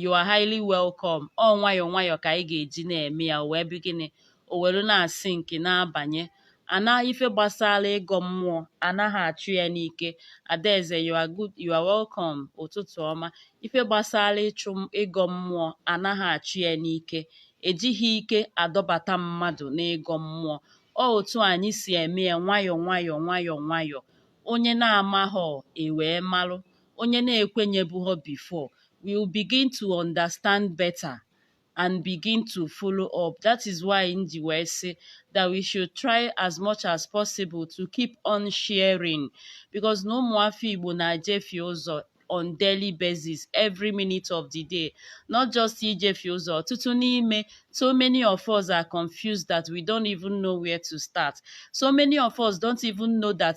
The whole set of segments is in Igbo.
you are highly welcome ọ nwayọọ nwayọọ ka anyị ga-eji na-eme ya wee begin o were na-asink na-abanye ana ife gbasara ịgọ mmụọ anaghị achụ ya n'ike adaeze you are good you are welcome ụtụtụ ọma ife gbasara ịchụ ịgọ mmụọ anaghị achụ ya n'ike ejighị ike adọbata mmadụ n'ịgọ mmụọ ọ otu anyị si eme ya nwayọọ nwayọọ nwayọọ nwayọọ onye na-amaghọ ewee malụ onye na-ekwenyebughọ before will begin to understand better and begin to follow up that is why m ji wee sị that we should try as much as possible to keep on sharing because na ụmụafọ Igbo na-ejefie ụzọ on daily basis every minute of the day not just ijefie ụzọ ọtụtụ n'ime so many of us are confused that we don't even know where to start so many of us don't even know that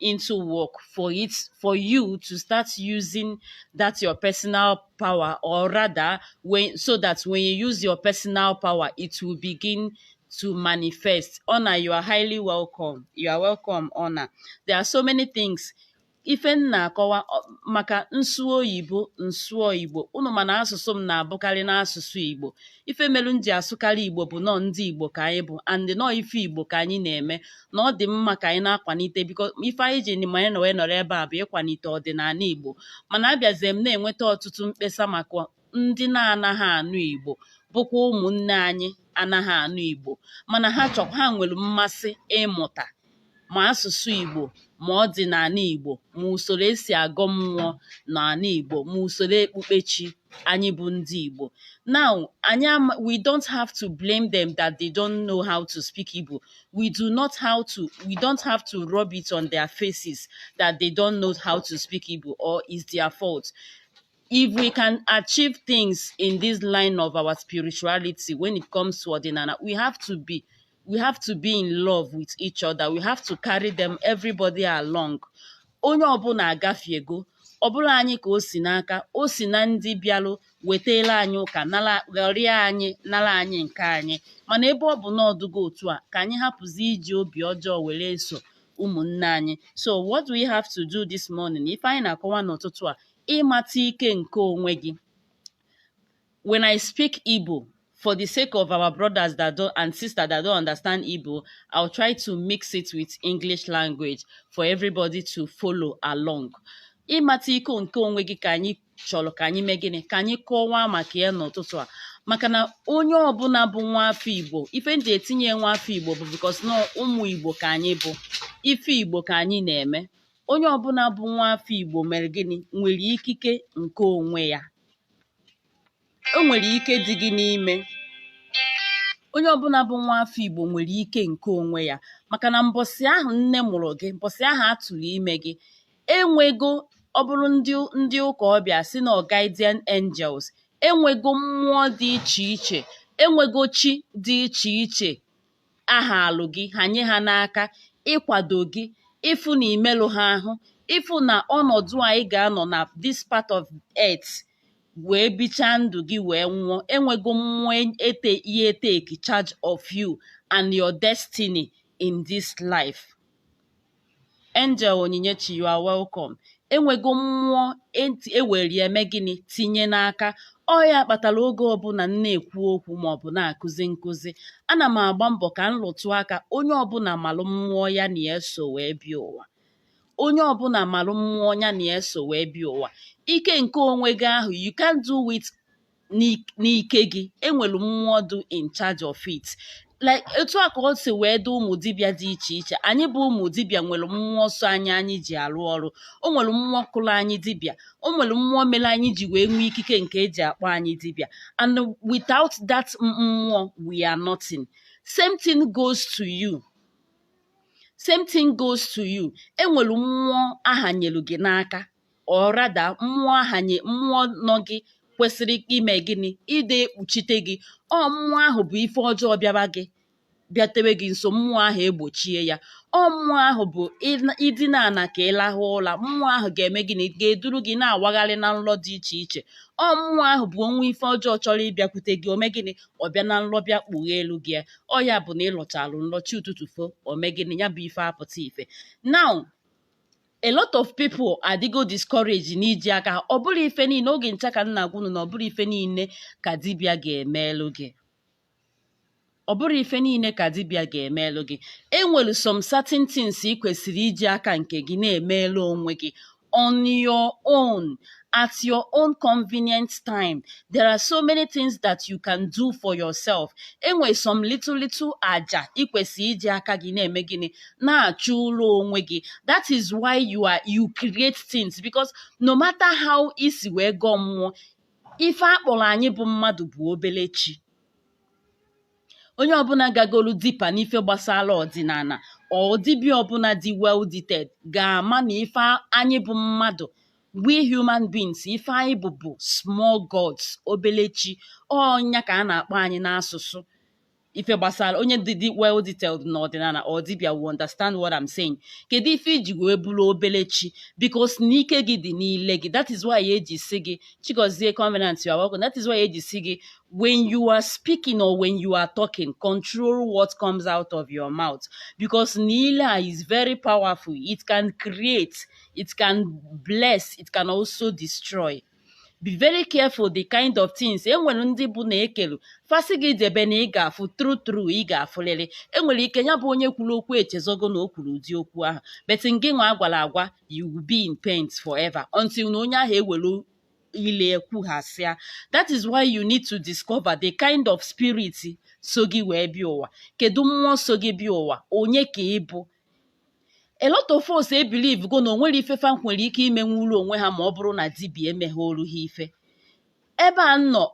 into work for it for you to start using that your personal power or rather when so that when you use your personal power it will begin to manifest honor you are highly welcome you are welcome honor there are so many things ife m na-akọwa maka nsu oyibo nsu igbo unu mana asụsụ m na-abụkarị n'asụsụ igbo ife melu m ji asụkarị igbo bụ na ọ ndị igbo ka anyị bụ and na ọ ife igbo ka anyị na-eme na ọ dị mma ka anyị na-akwanite because ife anyị ji ma anyị wee nọrọ ebe a bụ ịkwanite ọdịnala igbo mana abịazie m na-enweta ọtụtụ mkpesa maka ndị na-anaghị anụ igbo bụkwa ụmụnne anyị anaghị anụ igbo mana ha chọkwa ha nwere mmasị ịmụta ma asụsụ Igbo ma ọdịnala Igbo ma usoro esi agọ mmụọ n'ala Igbo ma usoro ekpukpechi anyị bụ ndị Igbo now anyị we don't have to blame them that they don't know how to speak Igbo we do not have to we don't have to rub it on their faces that they don't know how to speak Igbo or is their fault if we can achieve things in this line of our spirituality when it comes to ọdịnala we have to be we have to be in love with each other we have to carry them everybody along onye ọbụla agafiego ọ bụrọ anyị ka o si n'aka o si na ndị bịalụ wetara anyị ụka ghọrịa anyị nara anyị nke anyị mana ebe ọ bụ na ọ dịgo otu a ka anyị hapụzi iji obi ọjọọ were eso ụmụnne anyị so what we have to do this morning ife anyị na-akọwa n'ụtụtụ a ịmata ike nke onwe gị when I speak Igbo for the sake of our brothers that don't and sisters that don't understand Igbo, I'll try to mix it with English language for everybody to follow along. ịmata ike nke onwe gị ka anyị chọrọ ka anyị mee gịnị ka anyị kọwaa maka ya n'ụtụtụ a maka na onye ọbụla bụ nwa afọ igbo ife m ji etinye nwa afọ igbo bụ because na ụmụ igbo ka anyị bụ ife igbo ka anyị na-eme onye ọbụla bụ nwa afọ Igbo mere gịnị nwere ikike nke onwe ya o nwere ike dị gị n'ime onye ọbụla bụ nwa afọ Igbo nwere ike nke onwe ya maka na mbọsị ahụ nne mụrụ gị mbọsị ahụ a tụrụ ime gị enwego ọ bụrụ ndị ụka ọ bịa sị na guardian angels enwego mmụọ dị iche iche enwego chi dị iche iche ahalụ gị hanye ha n'aka ịkwado gị ịfụ na imelụ ha ahụ ịfụ na ọnọdụ a ị ga-anọ na this part of earth wee bichaa ndụ gị wee nwụọ enwego mmụọ ete ihe take charge of you and your destiny in this life Angel Onyinyechi you are welcome enwego mmụọ enti ewere ya eme gịnị tinye n'aka ọ ya kpatara oge ọbụla m na-ekwu okwu maọbụ na-akụzi nkụzi ana m agba mbọ ka m rụtụ aka onye ọbụla malụ mmụọ ya na ya so wee bịa ụwa onye ọbụla malụ mmụọ ya na ya so wee bịa ụwa ike nke onwe gị ahụ you can't do it n'ike gị enwere mmụọ dị in charge of it like etu a ka o si wee dị ụmụ dibịa dị iche iche anyị bụ ụmụ dibịa nwere mmụọ so anyị anyị ji arụ ọrụ o nwere mmụọ kụrụ anyị dibịa o nwere mmụọ mere anyị ji wee nwee ikike nke eji akpọ anyị dibịa and without that mmụọ we are nothing same thing goes to you same thing goes to you enwere mmụọ ahanyere gị n'aka or rather mmụọ ahanye mmụọ nọ gị kwesịrị ime gịnị ịdị ekpuchite gị ọ mmụọ ahụ bụ ife ọjọọ bịaba gị bịatewe gị nso mmụọ ahụ egbochie ya ọ mmụọ ahụ bụ ịna- idina ana ka ịlahụ ụla mmụọ ahụ ga-eme gịnị ga-eduru gị na-awagharị na nlọ dị iche iche ọ mmụọ ahụ bụ o nwee ife ọjọọ chọrọ ịbịakwute gị o mee gịnị ọ bịa na nlọ bịa kpugheelu gị ya. ọ ya bụ na ịlọchalụ nlọ chi ụtụtụ fo o mee gịnị ya bụ ife apụta ife now a lot of people adịgo discouraged n'iji aka ọ bụrọ ife niile oge ncha ka m na-agwa unu na ọ bụrọ ife niile ka dibịa ga-emelụ gị ọ bụrọ ife niile ka dibịa ga-emelụ gị enwere some certain things ị kwesịrị iji aka nke gị na-emelụ onwe gị on your own at your own convenient time. There are so many things that you can do for yourself. Enwe some little little aja ikwesị iji aka gị na-eme gịnị na-achụlụ onwe gị. That is why you are you create things because no matter how isi wee gọọ mmụọ ife akpọrọ anyị bụ mmadụ bụ obele chi. onye ọbụla gagolu deeper n'ife gbasara ọdịnala or dibịa ọbụla dị well detailed ga-ama na ife anyị bụ mmadụ we human beings ife anyị bụ bụ small gods obele chi ọ ya ka a na-akpọ anyị n'asụsụ ife gbasara onye dị dị well detailed n'ọdịnala or dibịa will understand what I'm saying kedu ife iji wee bụrụ obele chi because n'ike gị dị n'ile gị that is why eji sị gị Chigozie Covenant you are welcome that is why eji sị gị when you are speaking or when you are talking, control what comes out of your mouth because n'ile a is very powerful. It can create, it can bless, it can also destroy. Be very careful the kind of things enwere ndị bụ na ekelu fa sị gị debe na ị ga-afụ true true ị ga-afụlịrị enwere ike ya bụ onye kwuru okwu echezọgo na o kwuru ụdị okwu ahụ but ngịnwa a gwara agwa you will be in pain forever until na onye ahụ ewere ile kwughasịa that is why you need to discover the kind of spirit so gị wee bịa ụwa kedu mmụọ so gị bịa ụwa onye ka ị bụ a lot of us ebelieve go na o nwerọ ife fa nwere ike imenwuru onwe ha ma ọ bụrụ na dibia emeghoru ha ife ebe a m nọ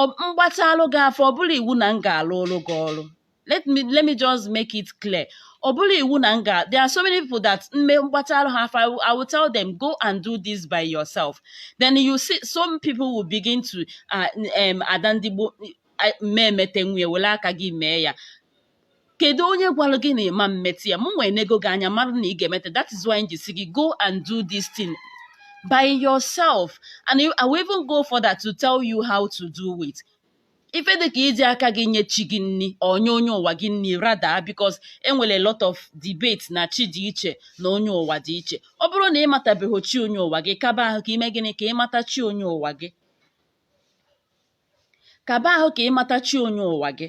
m gbatalụ gị afa ọ bụrọ iwu na m ga-alụlụ gị ọrụ let me let me just make it clear ọ bụrọ iwu na m ga there are so many people that mme m gbataarụ ha afa I will tell them go and do this by yourself then you see some people will begin to uh, um, ada ndị Igbo m ma-emetenwu ya were aka gị mee ya kedu onye gwara gị na ị ma-emete ya mụnwa enego gị anya mara na ị ga-emete that is why m ji sị gị go and do this thing by yourself and I will even go further to tell you how to do it ife dị ka iji aka gị nye chi gị nri onye onye ụwa gị nri rather because enwere a lot of debate na chi dị iche na onye ụwa dị iche ọ bụrụ na ị matabeghị chi onye ụwa gị kaba ahụ ka ime gịnị ka ịmata chi onye ụwa gị kaba ahụ ka ịmata chi onye ụwa gị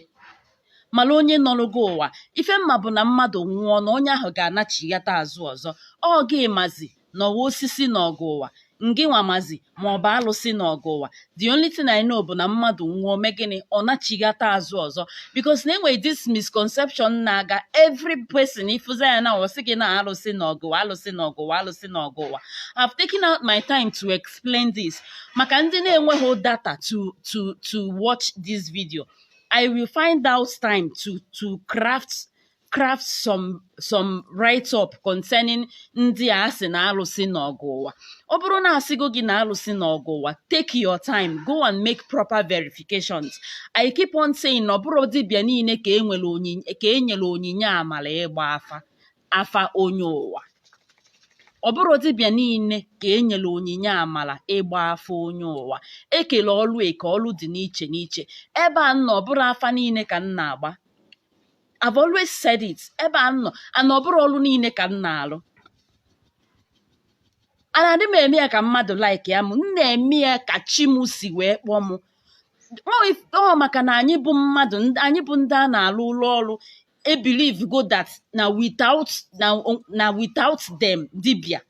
mara onye nọrụ gị ụwa ife m ma bụ na mmadụ nwụọ na onye ahụ ga-anachighata azụ ọzọ ọ gị mazi na ọ wụ osisi nọọ gị ụwa ngịnwa mazi ma ọ bụ alụsị nọọ gị ụwa the only thing I know bụ na mmadụ nwụọ o mee gịnị ọ nachighata azụ ọzọ because na enwere this misconception na-aga every person ị fụzia ya na ọ sị gị na alụsị nọọ gị ụwa alụsị nọọ gị ụwa alụsị nọọ gị ụwa I've taken out my time to explain this maka ndị na-enweghị data to to to watch this video I will find out time to to craft craft some some write up concerning ndị a sị na alụsị nọọ gị ụwa ọ bụrụ na a sịgo gị na alụsị nọọ gị ụwa take your time go and make proper verifications i keep on saying na ọ bụrọ dibịa niile ka enwere onyinye ka enyere onyinye amala ịgba afa afa onye ụwa ọ bụrọ dibịa niile ka e nyere onyinye amala ịgba afa onye ụwa ekelu ọlụ eke ọlụ dị n'iche n'iche ebe a m nọ ọ bụrọ afa niile ka m na-agba I've always said it ebe a m nọ anọ ọ bụrọ ọrụ niile ka m na-alụ anaadị m eme ya ka mmadụ likea m m na-eme ya ka chi m si wee kpọọ m Ọ if- ọ maka na anyị bụ mmadụ ndị- anyị bụ ndị a na-alụlụ ọrụ ebelieve go that na without na, na without them dibia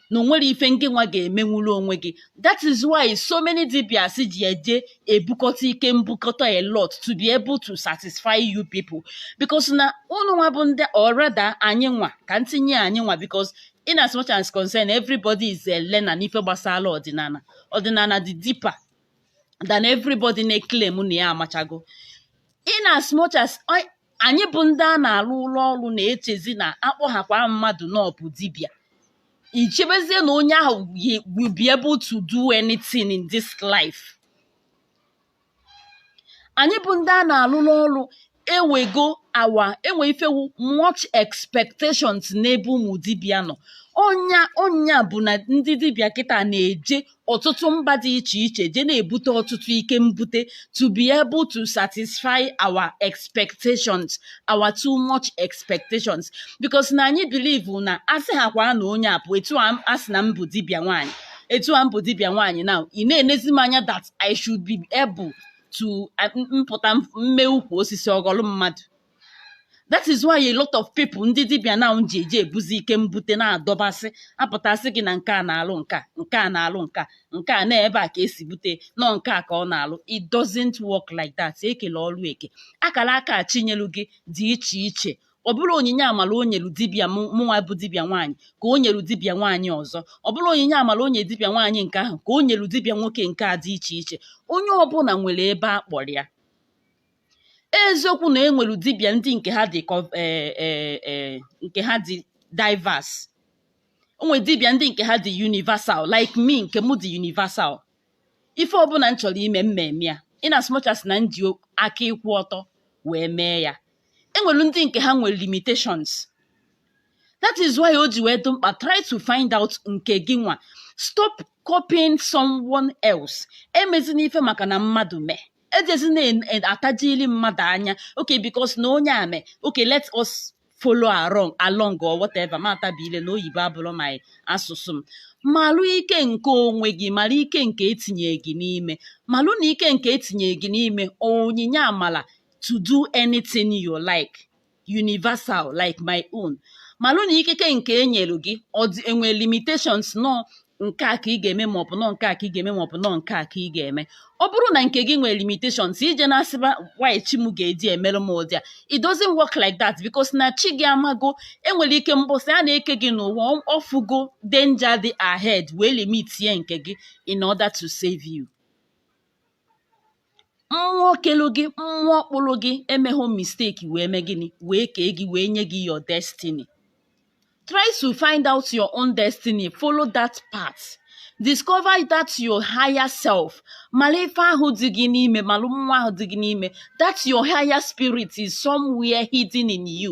na onwere ife ngị nwa ga-emenwuru onwe gị that is why so many dibias ji eje ebukọta ike mbukọta a lot to be able to satisfy you people because na ụnụ nwa bụ ndị or rather anyị nwa ka m tinye anyị nwa because in as much as concern everybody is a learner n'ife gbasara ọdịnala ọdịnala dị deeper than everybody na-eclaim na ya amachago in as much as anyị bụ ndị a na-alụlụ ọrụ na-echezi na akpọghakwa mmadụ na ọ bụ dibịa i chebezie na onye ahụ will be able to do anything in this life anyị bụ ndị a na-alụrụ ọrụ ewego awa enwe ife wu much expectations n'ebe ụmụ dibịa nọ ọ nya ọ nya bụ na ndị dibịa kịta na-eje ọtụtụ mba dị iche iche je na-ebute ọtụtụ ike mbute to be able to satisfy our expectations our too much expectations because na anyị believe na a sịhakwa na onye a bụ etu a sị na m bụ dibịa nwaanyị etu a m bụ dibịa nwaanyị na ị na-enezi m anya that I should be able to m pụta m mee ukwu osisi ọ ghọlụ mmadụ that is why a lot of people ndị dibịa na ji eje ebuzi ike mbute na-adọbasị a pụta sị gị na nke a na-alụ nke a nke a na-alụ nke a nke a n'ebe a ka e si bute nọ nke a ka ọ na-alụ it doesn't work like that e kele ọrụ eke akara aka chi nyelu gị dị iche iche ọ bụrọ onyinye amala o nyelu dibịa mụnwa bụ dibịa nwaanyị ka o nyelu dibịa nwaanyị ọzọ ọ bụrọ onyinye amala o nyelu dibịa nwaanyị nke ahụ ka o nyelu dibịa nwoke nke a dị iche iche onye ọbụla nwere ebe a kpọrọ ya eziokwu na enwere dibịa ndị nke ha dị eh, eh, eh, nke ha dị diverse enwere dibịa ndị nke ha dị universal like me nke m dị universal ife ọbụla m chọrọ ime m ma-eme ya in as much as na m ji aka ịkwụ ọtọ wee mee ya enwere ndị nke ha nwere limitations that is why o ji wee dị mkpa try to find out nke gị nwa stop copying someone else emezina ife maka na mmadụ mee ejezina atajili mmadụ anya okay because na onye a mee okay let us follow along along or whatever matabile na oyibo abụrọ my asụsụ m malụ ike nke onwe gị mara ike nke etinye gị n'ime malụ na ike nke etinye gị n'ime onyinye amala to do anything you like universal like my own malụ na ikike nke e nyere gị enwe limitations nọ nke a ka ị ga-eme ma ọ bụ nọ nke a ka ị ga-eme ma ọ bụ nọ nke a ka ị ga-eme ọ bụrụ na nke gị nwere limitations i je na-asịba why chi m ga-eji emere m ụdị a it doesn't work like that because na chi gị amago enwere ike mbọsị a na-eke gị n'ụwa ọ fụgo danger dị ahead wee limitie nke gị in order to save you mmụọ kelu gị mmụọ kpụrụ gị emeghị mistake wee mee gịnị wee kee gị wee nye gị your destiny try to find out your own destiny follow that path discover that your higher self malụ ife ahụ dị gị n'ime malụ mmụọ ahụ dị gị n'ime that your higher spirit is somewhere hidden in you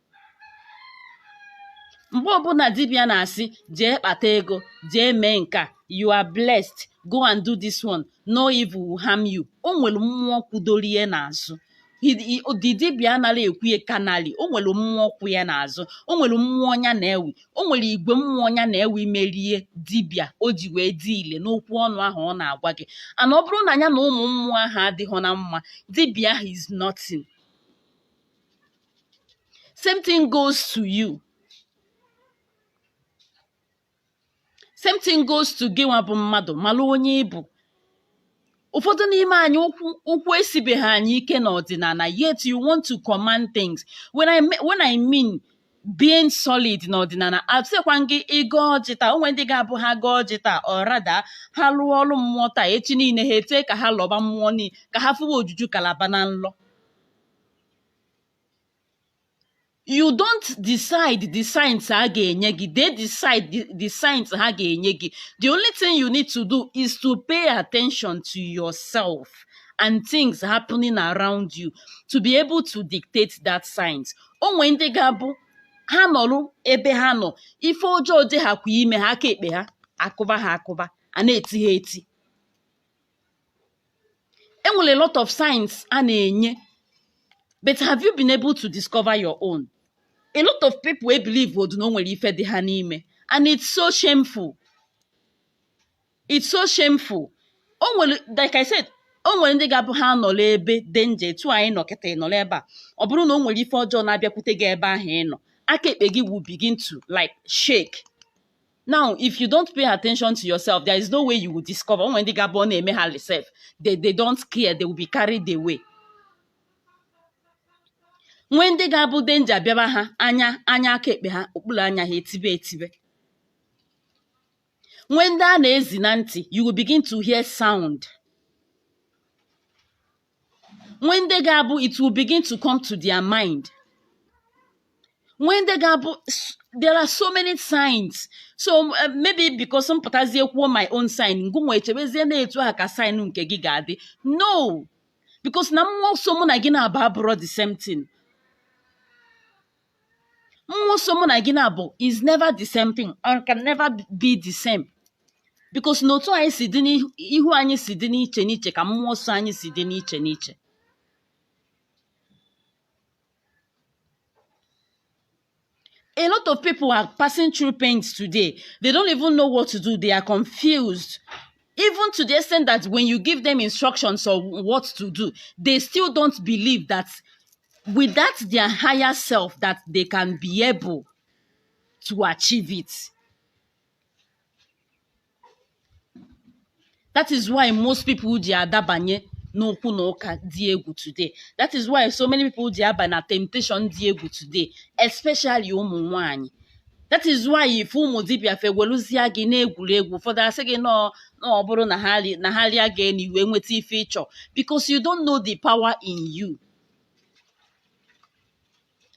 mgbe ọbụla dibịa na-asị jee kpata ego jee mee nke a you are blessed go and do this one no evil will harm you o nwere mmụọ kwudoro ya n'azụ He- he- the dibịa anaghị ekwu ya carnally o nwere mmụọ kwụ ya n'azụ o nwere mmụọ nya na-ewi o nwere igwe mmụọ nya na-ewi mere ya dibịa o ji wee dị ile n'okwu ọnụ ahụ ọ na-agwa gị and ọ bụrụ na ya na ụmụ mmụọ ahụ adịghọ na mma dibịa ahụ is nothing same thing goes to you same thing goes to gịnwa bụ mmadụ malụ onye ị bụ ụfọdụ n'ime anyị ụkwụ ụkwụ esibeghị anyị ike n'ọdịnala yet you want to command things when i me- when i mean being solid n'ọdịnala asịkwa m gị ịgọ ọjị taa o nwee ndị ga-abụ ha gọọ ọjị taa or rather ha lụọ ọrụ mmụọ taa echi niile ha etee ka ha lọba mmụọ niile ka ha fụwa ojuju Calabar na nlọ you don't decide the signs ha ga-enye gị they decide the, the signs ha ga-enye gị the only thing you need to do is to pay attention to yourself and things happening around you to be able to dictate that signs o nwee ndị ga-abụ ha nọrụ ebe ha nọ ife ọjọọ dị ha kwa ime ha aka ekpe ha akụba ha akụba a na-eti ha eti e nwere a lot of signs a na-enye but have you been able to discover your own a lot of people e believe odu na o nwere ife dị ha n'ime and it's so shameful it's so shameful o nwere like i said o nwere ndị ga-abụ ha nọrọ ebe dị nje etu anyị nọ kịta ị nọrọ ebe a ọ bụrụ na o nwere ife ọjọọ na-abịakwute gị ebe ahụ ị nọ aka ekpe gị will begin to like shake now if you don't pay attention to yourself there is no way you will discover o nwee ndị ga-abụ ọ na-eme ha rị sef they they don't care they will be carried away nwee ndị ga-abụ danger bịaba ha anya anya aka ekpe ha okpuru anya ha etibe etibe nwee ndị a na-ezi na ntị you will begin to hear sound nwee ndị ga-abụ it will begin to come to their mind nwee ndị ga-abụ s- there are so many signs so uh, maybe because m pụtazie kwuo my own sign ngụnwa echebezie na etu aha ka sign nke gị ga-adị no because na mmụọ so mụ na gị naabọ abụrọ the same thing mmụọ so mụ na gị na-abụ is never the same thing or can never be the same because na otu anyị si dị n'ihu anyị si dị n'iche n'iche ka mmụọ so anyị si dị n'iche n'iche a lot of people are passing through pains today. They don't even know what to do. They are confused. even to the extent that when you give them instructions on what to do they still don't believe that with that their higher self that they can be able to achieve it that is why most people ji adabanye n'okwu na ụka dị egwu today that is why so many people ji aba na temptation dị egwu today especially ụmụ nwanyị that is why ife ụmụ dibịa fa eweluzie gị na-egwuregwu ụfọdụ asị gị na ọ bụrụ na ha ri- na ha rịa gị enu i wee nweta ife ị chọ because you don't know the power in you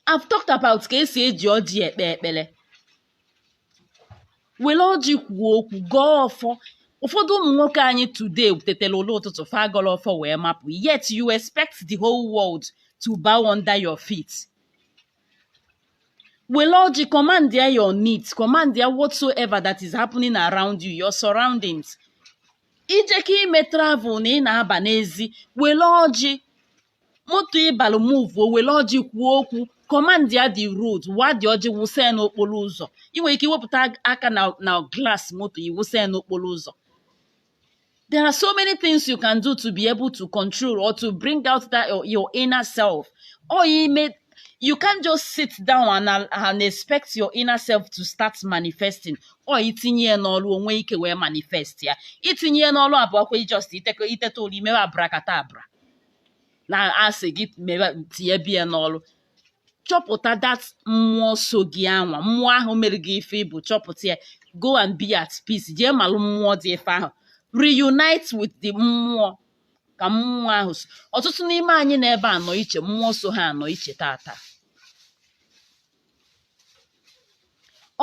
I've talked about ka esi eji ọjị ekpe ekpele were ọjị kwuo okwu gọọ ọfọ ụfọdụ ụmụ nwoke anyị today tetara ụla ụtụtụ fa agọrọ ọfọ wee mapụ yet you expect the whole world to bow under your feet were ọjị command ya your needs command ya whatsoever that is happening around you your surroundings ije ka ime travel na ị na-aba n'ezi were ọjị moto ị balụ move o were ọjị kwuo okwu command ya the road waa the ọjị wụsa ya n'okporo ụzọ ị nwere ike iwepụta aka na na glass moto ị wụsa ya n'okporo ụzọ There are so many things you can do to be able to control or to bring out that your, your inner self. Or you may you can't just sit down and, and expect your inner self to start manifesting ọ itinye ya n'ọrụ o nwee ike wee manifest ya itinye ya n'ọrụ abụọkwa just iteko iteta ụla imewe abrakadabra na asị gị mewe tinyebe ya n'ọrụ chọpụta that mmụọ so gị anwa mmụọ ahụ mere gị ife ị bụ chọpụta ya go and be at peace jee malụ mmụọ dị ife ahụ reunite with the mmụọ ka mmụọ ahụ so ọtụtụ n'ime anyị n'ebe anọ iche mmụọ so ha anọ iche tata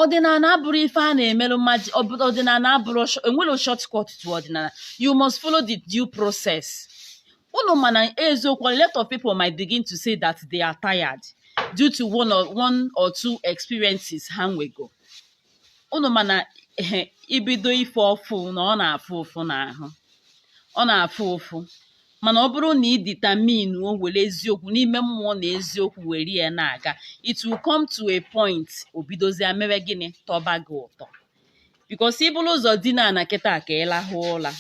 ọdịnala abụrọ ife a na-emerụ mmadụ ọ- ọdịnala abụrọ sh- enwerọ shortcut to ọdịnala you must follow the due process unu ma na eziokwu a lot of people might begin to say that they are tired due to one or, one or two experiences ha nwego unu ma na ehe, ibido ife ọfụụ na ọ na-afụ ụfụ n'ahụ ọ na-afụ ụfụ mana ọ bụrụ na ị determine o were eziokwu n'ime mmụọ na eziokwu were ya na-aga it will come to a point o bidozie mere gịnị tọba gị ụtọ because i buru ụzọ dina ana kịta ka ị lahụ ụla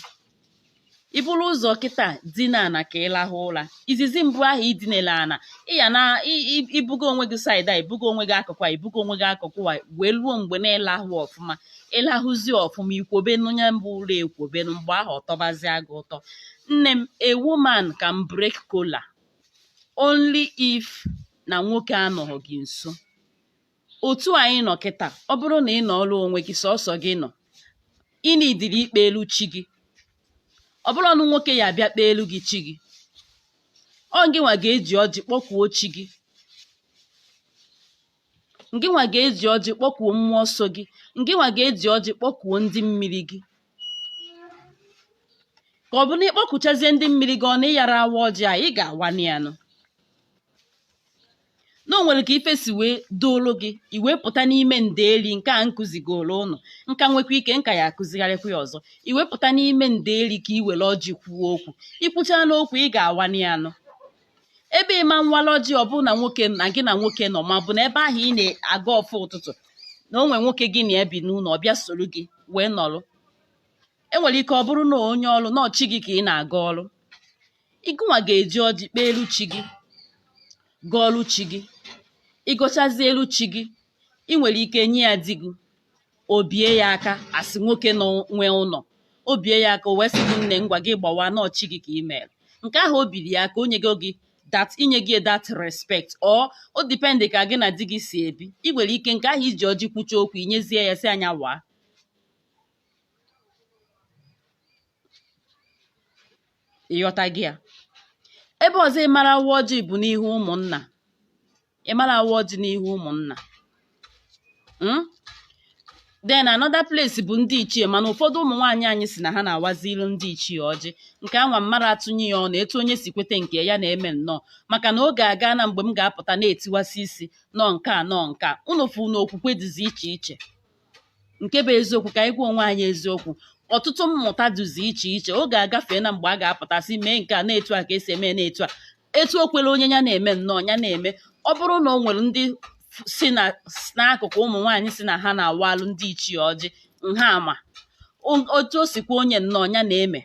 i buru ụzọ kịta dina ana ka ị lahụ ụla izizi mbụ ahụ i dinela ana ị ya na-ebugo onwe gị side a i bugo onwe gị akụkụ a i bugo onwe gị akụkụ a wee ruo mgbe na-elahụ ọfụma ị lahụzi ọfụma i kwobe nya bụ ụla ekwobe mgbe ahụ ọ tọbazie gị ụtọ nne m a woman can break kola only if na nwoke anọghị gị nso otu anyị nọ kịta ọ bụrụ na ị nọọrọ onwe gị sọsọ gị nọ ị needịrị ikpeelu chi gị ọ bụrọnụ nwoke ya-abịa kpeelu gị chi gị ọ ngịnwa ga-eji ọjị kpọkuo chi gị ngịnwa ga-eji ọjị kpọkuo mmụọ so gị ngịnwa ga-eji ọjị kpọkuo ndị mmiri gị ka ọ bụ na ị kpọkuchazie ndị mmiri gị ọ na ị yara awa ọjị a ị ga-awanị ya nụ na o nwere ka ife si wee doolu gị i wee pụta n'ime ndeeli nke a m kụzigoro ụnụ m ka nwekwa ike m ka ya akụzigharịkwa ya ọzọ i wee pụta n'ime ndeeli ka i were ọjị kwuo okwu i kwuchaanụ okwu ị ga-awanị ya nụ ebe ị ma nwala ọjị ọ bụrụ na nwoke na gị na nwoke nọ ma ọ bụ na ebe ahụ ị na-agọ ọfọ ụtụtụ na o nwee nwoke gị na ya bi n'ụlọ ọ bịa soro gị wee nọrọ e nwere ike ọ bụrụ na onye ọ bụrụ na ọ chi gị ka ị na-agọrọ ngịnwa ga-eji ọjị kpeelu chi gị gọọrọ chi gị ị gọchazielu chi gị ị nwere ike nye ya di gị o bie ya aka as nwoke nwe ụlọ o bie ya aka o wee sị gị nne ngwa gị gbawaa na ọ chi gị ka ị mere nke ahụ o biri ya aka o nyego gị that i nyego ya that respect or ọ depend ka gị na di gị si ebi ị nwere ike nke ahụ i ji ọjị kwuchaa okwu i nyezie ya sị ya nya waa ị ghọtago ya ebe ọzọ ị mara awa ọjị bụ n'ihu ụmụnna ị mara awa ọjị n'ihu ụmụnna hmm? then another place bụ ndị ichie mana ụfọdụ ụmụ nwaanyị anyị sị na ha na-awazilu ndị ichie ọjị nke anwa m mara atụnye ya ọnụ etu onye si kweta nke ya na-eme nnọọ maka na oge agaana mgbe m ga-apụta na-etiwasị isi na ọ nke a na ọ nke a unu fụ na okwukwe dịzi iche iche nke bụ eziokwu ka anyị gwa onwe anyị eziokwu ọtụtụ mmụta dịzi iche iche oge agafeena mgbe a ga-apụta sị mee nke a na etu a ka e si eme na etu a etu o kwere onye ya na-eme nnọọ ya na-eme ọ bụrụ na o nwere ndị si n'akụkụ ụmụ nwaanyị sị na ha na-awaalụ ndị ichie ọjị nke anwa otu o si kwe onye nnọọ ya na-eme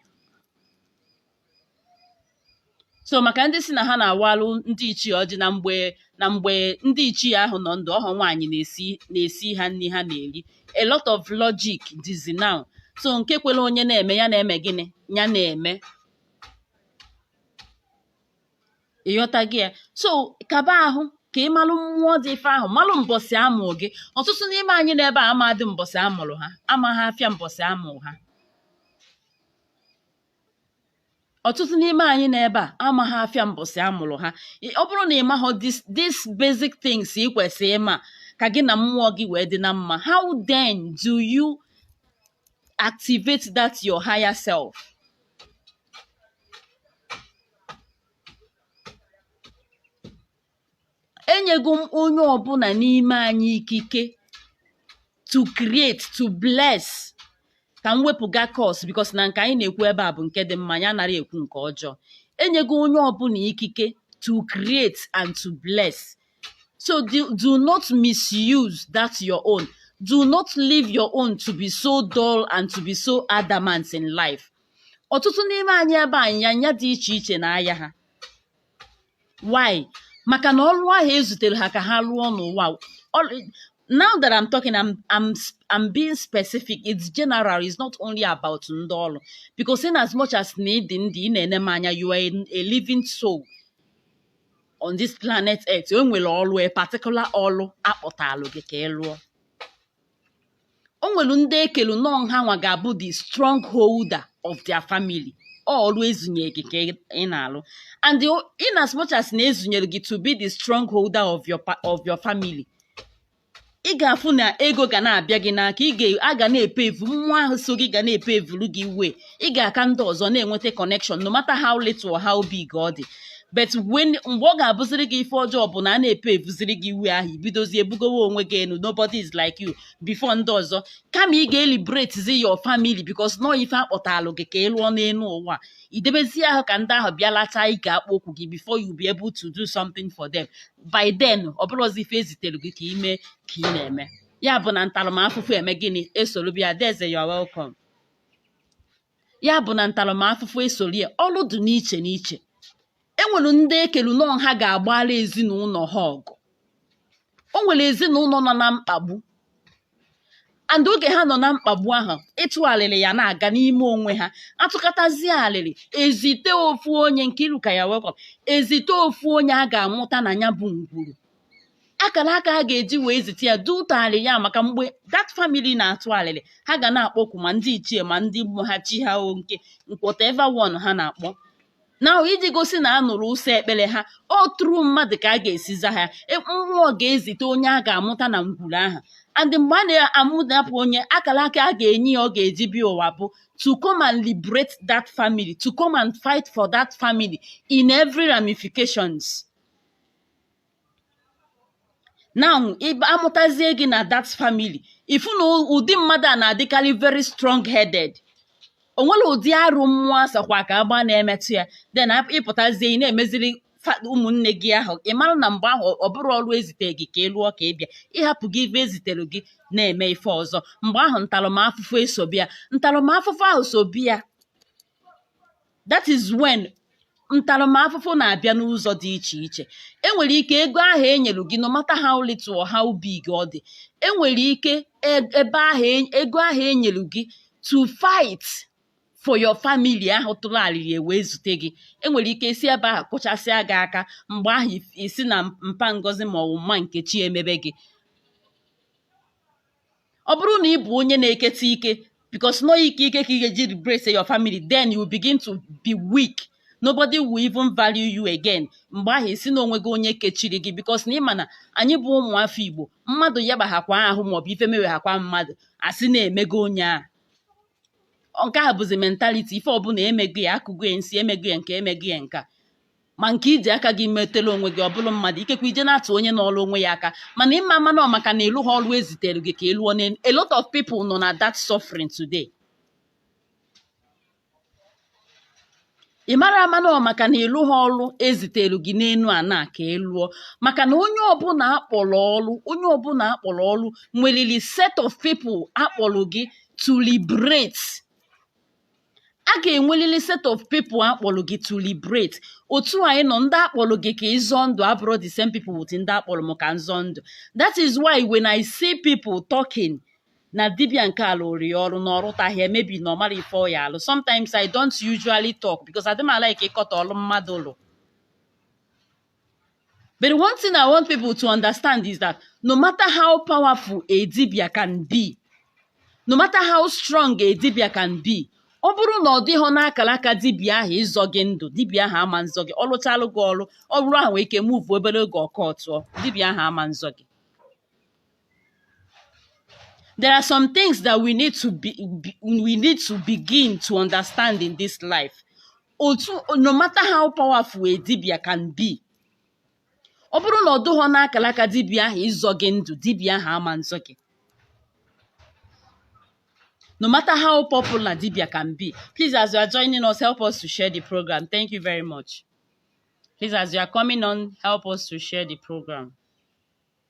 so maka ndị sị na ha na-awalụ ndị ichie ọjị na mgbe na mgbe ndị ichie ahụ nọ ndụ ọhọ nwaanyị na-esi na-esi ha nri ha na-eri a lot of logic dịzị now so nke kwere onye na-eme ya na-eme gịnị ya na-eme ị ghọtago ya so kaba ahụ ka ị malụ mmụọ dị ife ahụ malụ mbọsị a mụ gị ọtụtụ n'ime anyị n'ebe a amadị mbọsị a mụrụ ha amaghị afịa mbọsị a mụ ha ọtụtụ n'ime anyị n'ebe a amaghị afịa mbọsị a mụrụ ha ọ bụrụ na ị maghị this basic things ị kwesịrị ịma ka gị na mmụọ gị wee dị na mma how then do you activate that your higher self enyego m onye ọbụla n'ime anyị ikike to create to bless ka m wepụga curse because na nke anyị na-ekwu ebe a bụ nke dị mma anyị anarọ ekwu nke ọjọọ enyego onye ọbụla ikike to create and to bless so do, do not misuse that your own do not leave your own to be so dull and to be so adamant in life ọtụtụ n'ime anyị ebe anyị ya nya dị iche iche na ahịa ha why maka na ọrụ ahụ ezutere ha ka ha rụọ n'ụwa now that I'm talking, I'm I'm I'm being specific. It's general. It's not only about ndolo. Because in as much as need in the enemanya, you are a living soul on this planet Earth. You will always particular all apotalo get o nwere ndị e kelu na ọ nha nwa ga-abụ the strong holder of their family ọrụ e zunyere gị ka ị na-alụ and in as much as na e zunyere gị to be the strong holder of your of your family ị ga-afụ na ego ga na-abịa gị n'aka a ga na-epavu mmụọ ahụ so gị ga na-epavuru gị way ị ga-aka ndị ọzọ na-enweta connection no matter how little or how big ọ dị but when mgbe ọ ga-abụziri gị ife ọjọọ bụ na a na-epaveziri gị way ahụ i bidozie ebugowe onwe gị enu nobody is like you before ndị ọzọ kama ị ga-eliberatezi your family because na ọ ife a kpọtalụ gị ka ị lụọ n'elu ụwa i debezie ahụ ka ndị ahụ bịa lachaa akpụkpọ ụkwụ gị before you be able to do something for them by then ọ bụrọzi ife e zitere gị ka i mee ka ị na-eme ya bụ na ntaramafụfụ eme gịnị esoro bịa adaeze you are welcome ya bụ na ntaramafụfụ esoro ya ọrụ dị n'iche n'iche e nwere ndị e kelu na ọ ha ga-agbara ezinụlọ ha ọgụ o nwere ezinụlọ nọ na mkpagbu and oge ha nọ na mkpagbu ahụ ịtụ alịrị ya na-aga n'ime onwe ha a tụkatazie alịrị e zite ofu onye nkiruka you are welcome e zite ofu onye a ga-amụta na ya bụ ngwuru akara aka a ga-eji wee zite ya due to alịrị ya maka mgbe that family na-atụ alịrị ha ga na-akpọku ma ndị ichie ma ndị mmụọ ha chi ha o nke whatever one ha na-akpọ na iji gosi na a nụrụ ụsọ ekpere ha ọ through mmadụ ka a ga-esi za ha e, mmụọ ga-ezite onye a ga-amụta na ngwuru ahụ and mgbe a na-amụdapụ onye akara aka a ga-enye ya ọ ga-eji bịa ụwa bụ to come and liberate that family to come and fight for that family in every ramifications. now amụtazie gị na that family ifu na ụdị mmadụ a na-adịkarị very strong headed o nwere ụdị arụ mmụọ asakwa ka agba na-emetụ ya then ịpụtazie ị na-emeziri ụmụnne gị ahụ ị mara na mgbe ahụ ọ bụrụ ọrụ ezite gị ka ị lụọ ka ị bịa ịhapụ gị ife ezitere gị na-eme ife ọzọ mgbe ahụ ntaramafụfụ esobịa ntaramafụfụ ahụ sobịa that is when ntaramafụfụ na-abịa n'ụzọ dị iche iche enwere ike ego ahụ enyere gị no matter how little or how big ọ dị enwere ike e- ego ahụ enyere gị to fight for your family ahụ tụrụ alịlị wee zute gị enwere ike si ebe ahụ kụchasịa gị aka mgbe ahụ ị sị na mpa ngozi ma ọ bụ mma nkechi emebe gị ọ bụrụ na ị bụ onye na-eketa ike because na ọ ike ike ka ị ga-eji liberate your family then you begin to be weak nobody will even value you again mgbe ahụ ị sị na o nwego onye kechiri gị because na ịma na anyị bụ ụmụafọ igbo mmadụ yabaghakwa ahụ maọbụ ife meweghakwa mmadụ asị na emego onye ahụ nke a bụzi mentality ife ọbụla emego ya akụgo ya nsi emego ya nke a emego ya nke a ma nke iji aka gị metela onwe gị ọ bụrụ mmadụ ikekwe ije na-atụ onye nọrọ onwe ya aka mana ịma ama na ọ maka na ị lụha ọrụ ezitere gị ka ị lụọ n'elu a lot of people nọ na that suffering today ị mara ama na ọ maka na ị lụha ọrụ ezitere gị n'elu ana ka ị lụọ maka na onye ọbụla akpọrọ ọrụ onye ọbụla akpọrọ ọrụ nwelili set of people akpọrọ gị to liberate a ga-enwelili set of people a kpọrọ gị to liberate otu anyị nọ ndị akpọrọ gị ka ịzọ ndụ abụrọ the same people with ndị akpọrọ m ka nzọ ndụ that is why when I see people talking na dibia nke a lụọrọ ya ọrụ na ọ rụtahị ya maybe na ọ marọ ife ọ ya-alụ sometimes I don't usually talk because adị m alike ịkọtọ ọrụ mmadụ lụ But one thing I want people to understand is that no matter how powerful a dibia can be, no matter how strong a dibia can be, ọ bụrụ na ọ dịghọ n'akara aka dibia ahụ ịzọ gị ndụ dibia ahụ ama nzọ gị ọ lụchalụ gị ọrụ ọ bụrụ ahụ nwee ike move obere oge ọ kụtụọ dibia ahụ ama nzọ gị there are some things that we need to begin to understand in this life that no matter how powerful a dibia can be ọ bụrụ na ọ dụghọ n'akara aka dibia ahụ ịzọ gị ndụ dibia ahụ ama nzọ gị no matter how popular dibia can be please as you are joining us help us to share the program thank you very much please as you are coming on help us to share the program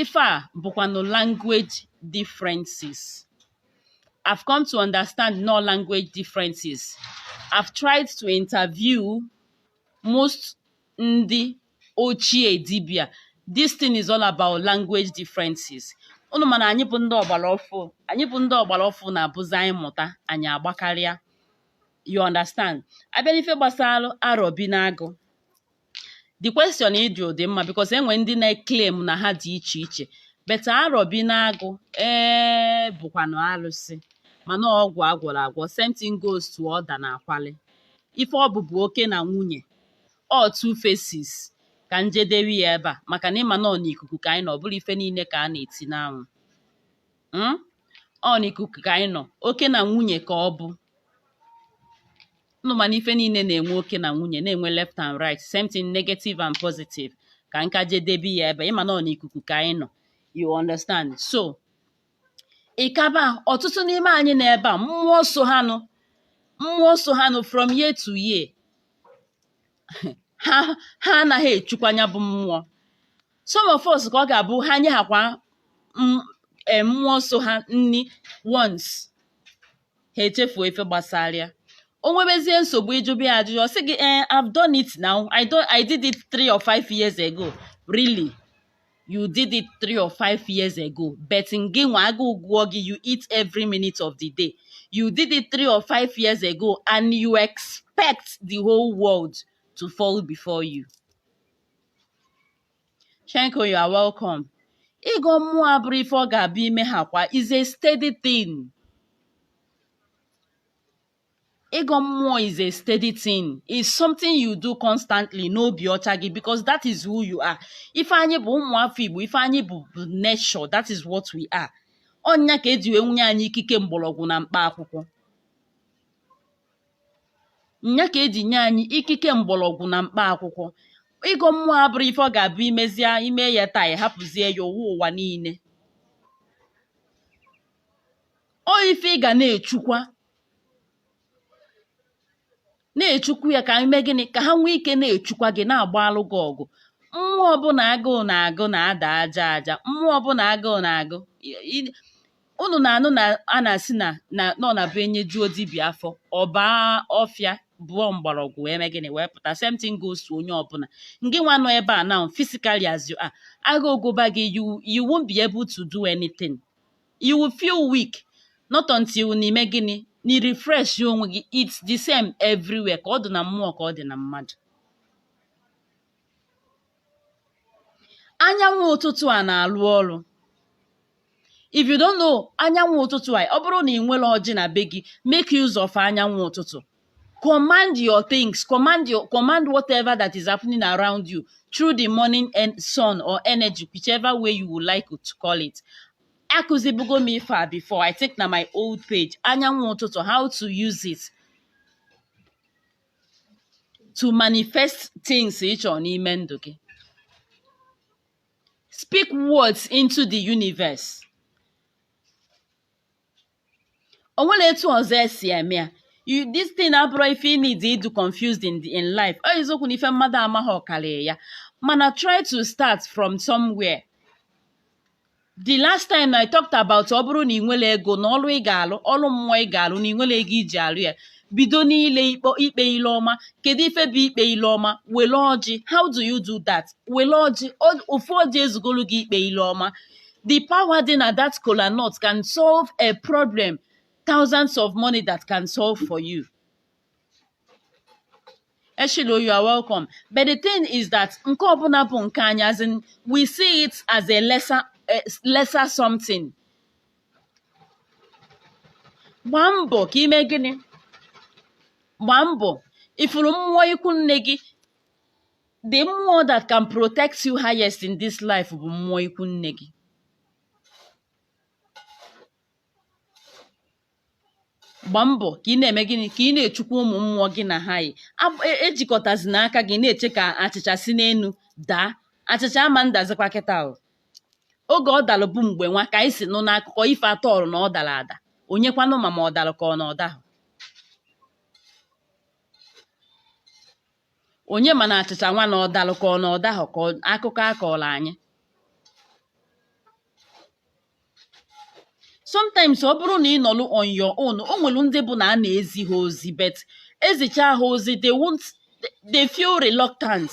Ife a bụkwanụ language differences. I've come to understand na ọ language differences. I've tried to interview most ndị ochie dibịa. This thing is all about language differences. Unu ma na anyị bụ ndị ọgbara ọfụ anyị bụ ndị ọgbara ọfụ na-abụzi anyị mụta anyị agbakarịa you understand a bịa n'ife gbasara arọ bi n'agụ the question ị jụ dị mma because e nwere ndị na-claim na ha dị iche iche but arọ bi n'agụ ee bụkwanụ arụsị mana ọ ọgwụ a gwọrọ agwọ same thing goes to ọda na akwali ife ọ bụ bụ oke na nwunye ọ two faces ka m jedebe ya ebe a maka na ị ma na ọ n'ikuku ka anyị nọ ọ bụrọ ife niile ka a na-eti n'anwụ hmm? ọ n'ikuku ka anyị nọ oke na nwunye ka ọ bụ unu ma na ife niile na-enwe oke na nwunye na-enwe left and right same thing negative and positive ka m ka jedebe ya ebe ị ma na ọ n'ikuku ka anyị nọ you understand so ị kaba ọtụtụ n'ime anyị nọ ebe a mmụọ so ha nụ mmụọ so ha nụ from year to year ha ha anaghị echukwa nya bụ mmụọ some of us ka ọ ga-abụ ha nyehakwa m- eh, mmụọ so ha nni once ha echefuo ife gbasara ya o nwebezie nsogbu ị jụba ya ajụjụ ọ sị gị eh, I've done it now I, do, I did it three or five years ago really you did it three or five years ago but ngị nwa agụụ gụọ gị you eat every minute of the day you did it three or five years ago and you expect the whole world to fall before you Shenko, you are welcome. Ịgọ mmụọ abụrọ ife ọ ga-abụ i mehakwa is a steady thing. Ịgọ mmụọ is a steady thing. It's something you do constantly n'obi ọcha gị because that is who you are. Ife anyị bụ ụmụ afọ Igbo, ife anyị bụ nature, that is what we are. Ọ nya ka e ji wee bunye anyị ikike mgbọlọgwụ na mkpa akwụkwọ. nya ka e ji nye anyị ikike mgbọlọgwụ na mkpa akwụkwọ ịgọ mmụọ abụrọ ife ọ ga-abụ i mezie i me ya taa ị hapụzie ya ụwa ụwa niile ọ ife ị ga na-echukwa na-echukwu ya ka i me gịnị ka ha nwee ike na-echukwa gị na-agbaalụ gị ọgụ mmụọ ọbụna agụụ na-agụ na-ada aja aja mmụọ ọbụna agụụ na-agụ unu na-anụ na a na-asị na na ọ na-abụ e nyejuo dibịa afọ ọ baa ọfịa bọọ mgbọrọgwụ wee mee gịnị wee pụta same thing goes to onye ọbụna ngị nwa nọ ebe a now physically as you are agụụ gụba gị you you won't be able to do anything you will feel weak not until na i me gịnị na ị refresh onwe gị it's the same everywhere ka ọ dị na mmụọ ka ọ dị na mmadụ anyanwụ ụtụtụ a na-alụ ọrụ if you don't know anyanwụ ụtụtụ a ọ bụrụ na ị nwere ọjị na be gị make use of anyanwụ ụtụtụ command your things command your command whatever that is happening around you through the morning sun or energy whichever way you would like to call it akụzibugo m ife a before i think na my old page anyanwụ ụtụtụ how to use it to manifest things ị chọrọ n'ime ndụ gị speak words into the universe o nwere etu ọzọ esi eme ya you this thing abụrụ ife ị need ịdụ confused in, the, in life ọ eziokwu na ife mmadụ amaghị ọ karịa ya mana try to start from somewhere the last time I talked about ọ bụrụ na ị nwere ego na ọrụ ị ga-alụ ọrụ mmụọ ị ga-alụ na ị nwere ego iji alụ ya bido n'ile ikpe ikpe ile ọma kedu ife bụ ikpe ile ọma wele ọjị how do you do that wele ọjị o- ofu ọjị ezugolu gị ikpe ile ọma the power dị na that kola nut can solve a problem thousands of money that can solve for you Eshilo, you are welcome. But the thing is that nke ọbụla bụ nke anyị as in we see it as a lesser, a lesser something. Gbaa mbọ ka i me gịnị? Gbaa mbọ ifuru mmụọ ikwu nne gị the mmụọ that can protect you highest in this life bụ mmụọ ikwu nne gị. gba mbọ ka ị na-eme gịnị ka ị na-echukwa ụmụ mmụọ gị na ha yi ejikọtazina aka gị na-eche ka achịcha si n'enu daa achịcha ama ndazikwa kịta ahụ oge ọ dalụ bụ mgbe nwa ka anyị si nụ n'akụkọ ife atọọrụ na ọ dara ada onye kwanụ ma ma ọ dalụ ka ọ na ọ dahọ onye ma na achịcha nwa na ọ dalụ ka ọ na ọ dahọ ka ọ- akụkọ a kọọlụ anyị sometimes ọ bụrụ na ị nọlụ on your own o nwere ndị bụ na a na-ezi ha ozi but ezicha ha ozi they won't they feel reluctant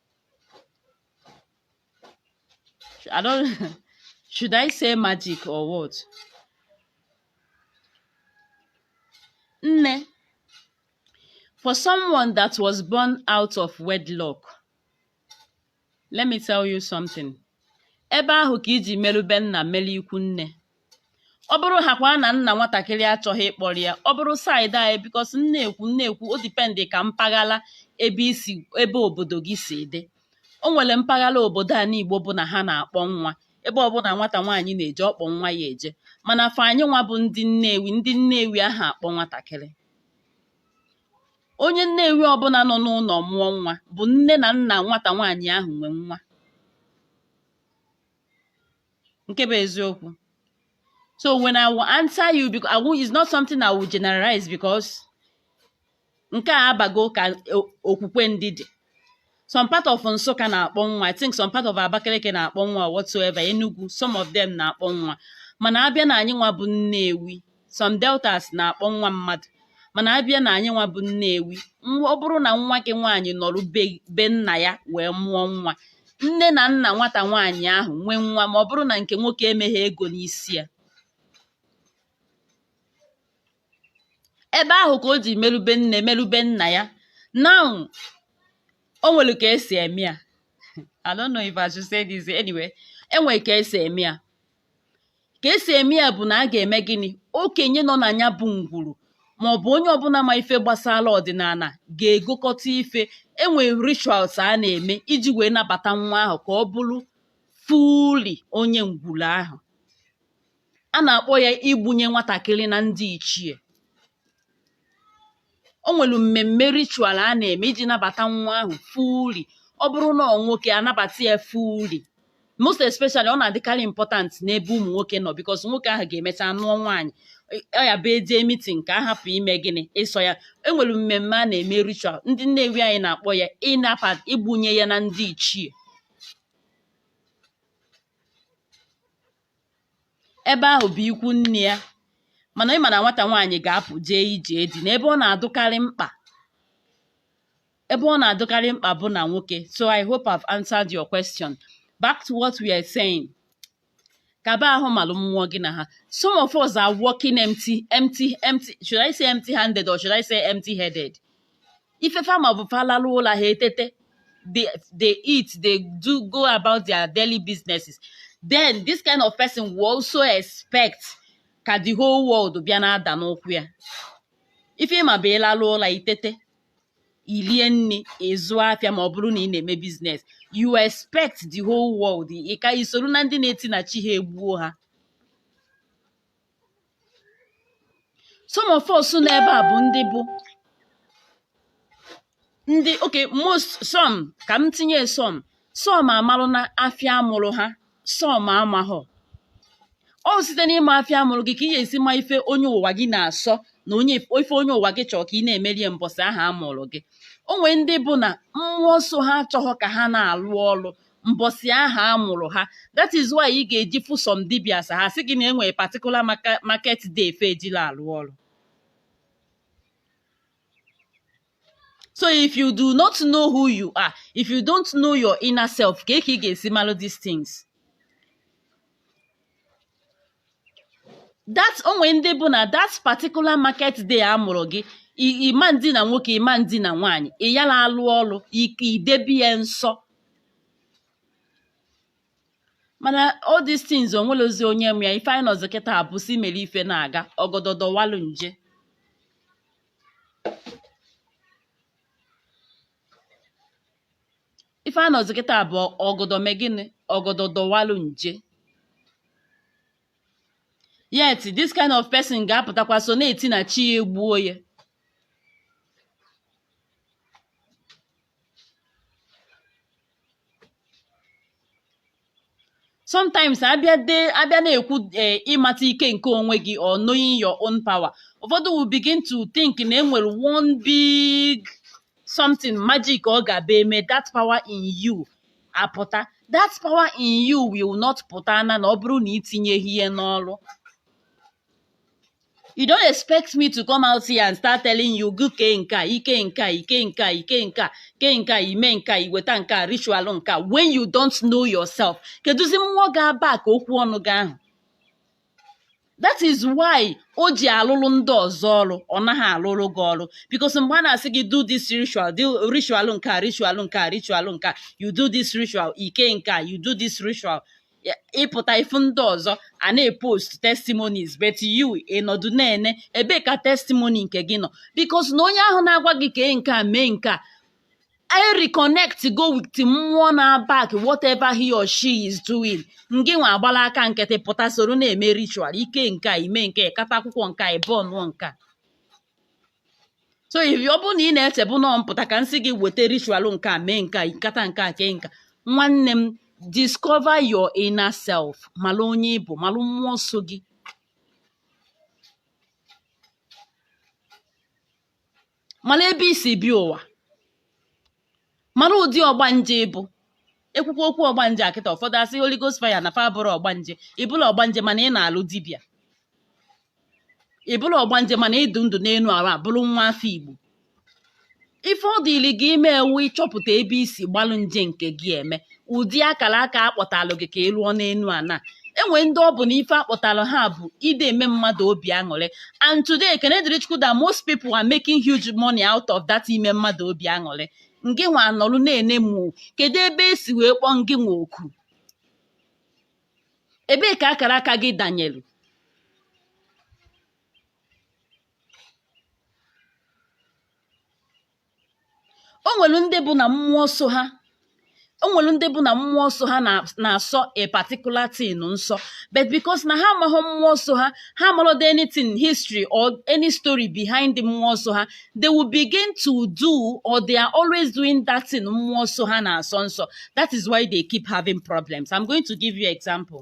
I don't should I say magic or what? Nne, for someone that was born out of wedlock, let me tell you something. Ebe ahụ ka iji merube nna mere ikwu nne. ọ bụrụ ha kwa na nna nwatakịrị achọghị ịkpọrọ ya ọ bụrụ side anyị because m na-ekwu m na-ekwu o depend ka mpaghara ebe isi ebe obodo gị si dị o nwere mpaghara obodo a n'igbo bụ na ha na-akpọ nwa ebe ọbụla nwata nwaanyị na-eje ọ kpọ nwa ya eje mana for anyị nwa bụ ndị nnewi ndị nnewi aha akpọ nwatakịrị onye nnewi ọbụla nọ n'ụlọ mụọ nwa bụ nne na nna nwata nwaanyị ahụ nwe nwa nke bụ eziokwu so when i will answer you because it's not something i will generalize because nke a abago ka okwukwe ndị dị some part of Nsụka na-akpọ nwa I think some part of Abakaliki na-akpọ nwa whatsoever Enugu some of them na-akpọ nwa mana abịa na anyị nwa bụ Nnewi some deltas na-akpọ nwa mmadụ mana abịa na anyị nwa bụ Nnewi ọ bụrụ na nwa gị nwaanyị nọrọ be nna ya wee mụọ nwa nne na nna nwata nwaanyị ahụ nwee nwa ma ọ bụrụ na nke nwoke emeghị ego n'isi ya ebe ahụ ka o ji merube nne merube nna ya now o nwere ka esi eme ya I don't know if I should say this anyway enwere ka esi eme ya ka esi eme ya bụ na a ga-eme gịnị okenye nọ na ya bụ ngwuru ma ọ bụ onye ọbụla ma ife gbasara ọdịnala ga-egokọta ife enwe rituals a na-eme iji wee nabata nwa ahụ ka ọ bụrụ fully onye ngwuru ahụ a na-akpọ ya igbunye nwatakịrị na ndị ichie o nwere mmemme ritual a na-eme iji nabata nwa ahụ fully ọ bụrụ na ọ nwoke anabata ya fully most especially ọ na-adịkarị important n'ebe ụmụ nwoke nọ because nwoke ahụ ga-emecha nụọ nwaanyị ọ ya bụ eje meeting ka a hapụ ime gịnị ịsọ ya enwere mmemme a na-eme ritual ndị nnewi anyị na-akpọ ya ịnapa igbunye ya na ndị ichie ebe ahụ bụ ikwu nne ya mana ị ma na nwata nwaanyị ga-apụ jee ije di na ebe ọ na-adụkarị mkpa ebe ọ na-adụkarị mkpa bụ na nwoke so I hope I've answered your question back to what we are saying kaba ahụ malụ mmụọ gị na ha some of us are walking empty empty empty should I say empty handed or should I say empty headed ife fa ma bụ fa lalụ ụla ha etete they, they eat they do go about their daily businesses then this kind of person will also expect ka the whole world bịa na-ada n'ụkwụ ya ife ị ma bụ ịlalụ ụla itete ilie nni ịzụ afịa ma ọ bụrụ na ị na-eme business you expect the whole world ka isoro na ndị na-eti na chi ha egbuo ha some of us nọ ebe a bụ ndị bụ ndị okay most some ka m tinye some some amalụna afịa amụrụ ha some amaghọ ọ site n'ịma afịa amụrụ gị ka ị ga-esi ma ife onye ụwa gị na-asọ na ife onye ụwa gị chọrọ ka ị na-emere ya mbọsị ahụ amụrụ gị o nwee ndị bụ na mmụọ so ha achọghọ ka ha na-alụ ọrụ mbọsị ahụ a mụrụ ha that is why ị ga-eji fụ some dibias ha sị gị na enwere particular market day fa ejila alụ ọrụ so if you do not know who you are if you don't know your inner self kee ka ị ga-esi malụ these things that onwe ndị bụ na that particular market day a mụrụ gị i- ị ma-edina nwoke ị ma-edina nwaanyị ị yala alụ ọrụ ị ga-edebe ya nsọ mana all these things onwelozi onye ma ya ife anyị nọzi kịta bụ sị mere ife na-aga ọgọdọ dọwalụ nje ife a nọzi kịta bụ ọgọdọ mee gịnị ọgọdọ dọwalụ nje yet this kind of person ga-apụtakwa so na-eti na chi ya egbuo ya sometimes abịa na-ekwu ịmata ike nke onwe gị or knowing your own power ụfọdụ will begin to think na enwere one big something magic ọ ga-abụ e mee that power in you apụta that power in you will not pụta na na ọ bụrụ na itinyeghị ya n'ọrụ you don't expect me to come out here and start telling you gị kee nke a ike nke a ike nke a ike nke a kee nke a ime nke a iweta nke a ritual nke a when you don't know yourself kedụzi mmụọ ga-aback okwu ọnụ gị ahụ that is why o ji alụrụ ndị ọzọ ọrụ ọ naghị alụrụ gị ọrụ because mgbe a na-asị gị do this ritual do ritual nke a ritual nke a ritual nke a you do this ritual ike nke a you do this ritual ịpụta ifu ndị ọzọ a na-epost testimonies but you ịnọdụ na-ene ebee ka testimony nke gị nọ because na onye ahụ na-agwa gị kee nke a mee nke a ereconnectgo with mmụọ na-aback whatever he or she is doing ngị nwa agbala aka nkịtị pụta soro na-eme ritual ike nke a ime nke a ịkata akwụkwọ nke a ịbụ ọnụọ nke a so if ọ bụrụ na ị na-echebu na ọ m pụta ka m sị gị weta ritual nke a mee nke a ịkata nke a kee nke a nwanne m discover your inner self malụ onye ị bụ malụ mmụọ so gị malụ ebe i si bịa ụwa mara ụdị ọgbanje ị bụ e kwukwa okwu ọgbanje a kịta ụfọdụ asị Holy Ghost fire na fa abụrọ ọgbanje ị bụrọ ọgbanje mana ị na-alụ dibịa ị bụrọ ọgbanje mana ị dụ ndụ n'elu ala a bụrụ nwa afọ Igbo ife ọ dịrị gị ime bụ ịchọpụta ebe i si gbalụ nje nke gị eme ụdị akara aka a kpọtalụ gị ka ị lụọ n'enu ana e nwe ndị ọ bụ na ife a kpọtalụ ha bụ ịdị eme mmadụ obi aṅụrị and today ekene dịrị chukwu that most people are making huge money out of that ime mmadụ obi aṅụrị ngị nwa nọrụ na-ene mụ kedu ebe e si wee kpọọ ngị nwa oku ebee ka akara aka gị danyelu o nwere ndị bụ na mmụọ so ha o nwere ndị bụ na mmụọ so ha na- na-asọ a particular thing nsọ but because na ha amaghị mmụọ so ha ha amalọdụ anything history or any story behind the mmụọ so ha they will begin to do or they are always doing that thing mmụọ so ha na-asọ nsọ that is why they keep having problems i'm going to give you example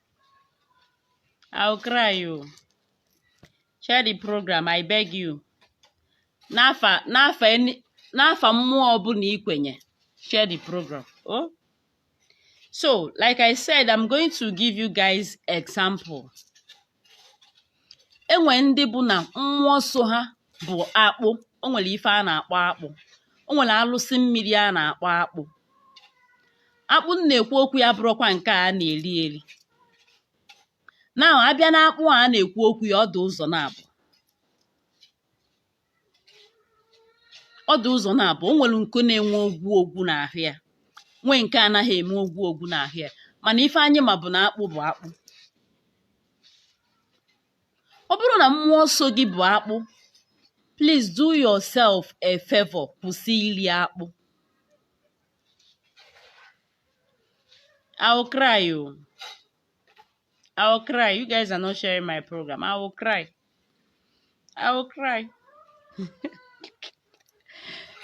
I'll cry o. Share the program, I beg you. N'afa n'afa n'afa mmụọ ọbụla i kwenye, share the program. Oh? So, like I said, I'm going to give you guys example. E nwe ndị bụ na mmụọ so ha bụ akpụ o nwere ife a na-akpọ akpụ o nwere alụsị mmiri a na-akpọ akpụ akpụ m na-ekwu okwu ya abụrọkwa nke a na-eri eri now a bịa na akpụ a na-ekwu okwu ya ọ dụ ụzọ naabọ ọ dụ ụzọ naabọ o nwere nke na-enwe ogwu ogwu n'ahụ ya nwee nke anaghị eme ogwu ogwu n'ahụ ya mana ife anyị ma bụ na akpụ bụ akpụ ọ bụrụ na mmụọ so gị bụ akpụ please do yourself a favor kwụsị iri akpụ I will cry o. I will cry. You guys are not sharing my program. I will cry. I will cry.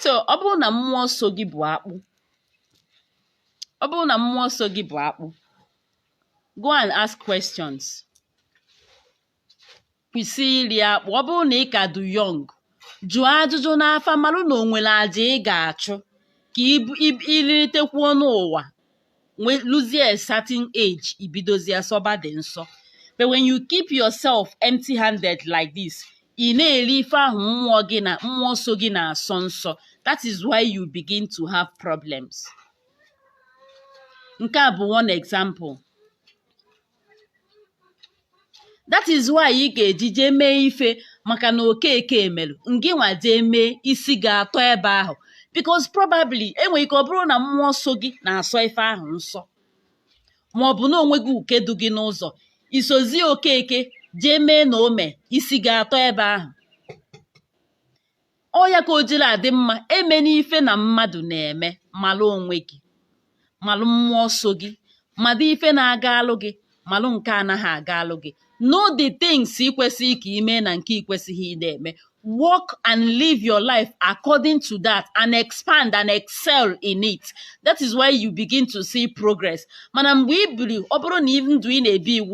so ọ bụrụ na mmụọ so gị bụ akpụ ọ bụrụ na mmụọ so gị bụ akpụ go and ask questions kwụsị iri akpụ ọ bụrụ na ị ka dụ young jụọ ajụjụ n'afa marụ na o nwere aja ị ga-achụ ka i litekwuo n'ụwa luzie a certain age i bidozie sọba the nsọ but when you keep yourself empty handed like this ị na-eri ife ahụ mmụọ so gị na-asọ nsọ that is why you begin to have problems. nke a bụ one example that is why ị ga-eji jee mee ife maka na okeke emelụ ngị nwa jee mee isi ga-atọ ebe ahụ because probably enwere ike ọ bụrụ na mmụọ so gị na-asọ ife ahụ nsọ ma ọ bụ na onwe gị uke dụ gị n'ụzọ i sozi okeke jee mee na o me isi ga-atọ ebe ahụ ọ ya ka o jiri adị mma eme n'ife na mmadụ na-eme malụ onwe gị malụ mmụọ so gị malụ ife na-aga alụ gị malụ nke anaghị aga alụ gị know the things ị kwesịrị ka i mee na nke ị kwesịghị ị na-eme work and live your life according to that and expand and excel in it that is why you begin to see progress mana mgbe ị biri ọ bụrụ na ndụ ị na-ebi iwu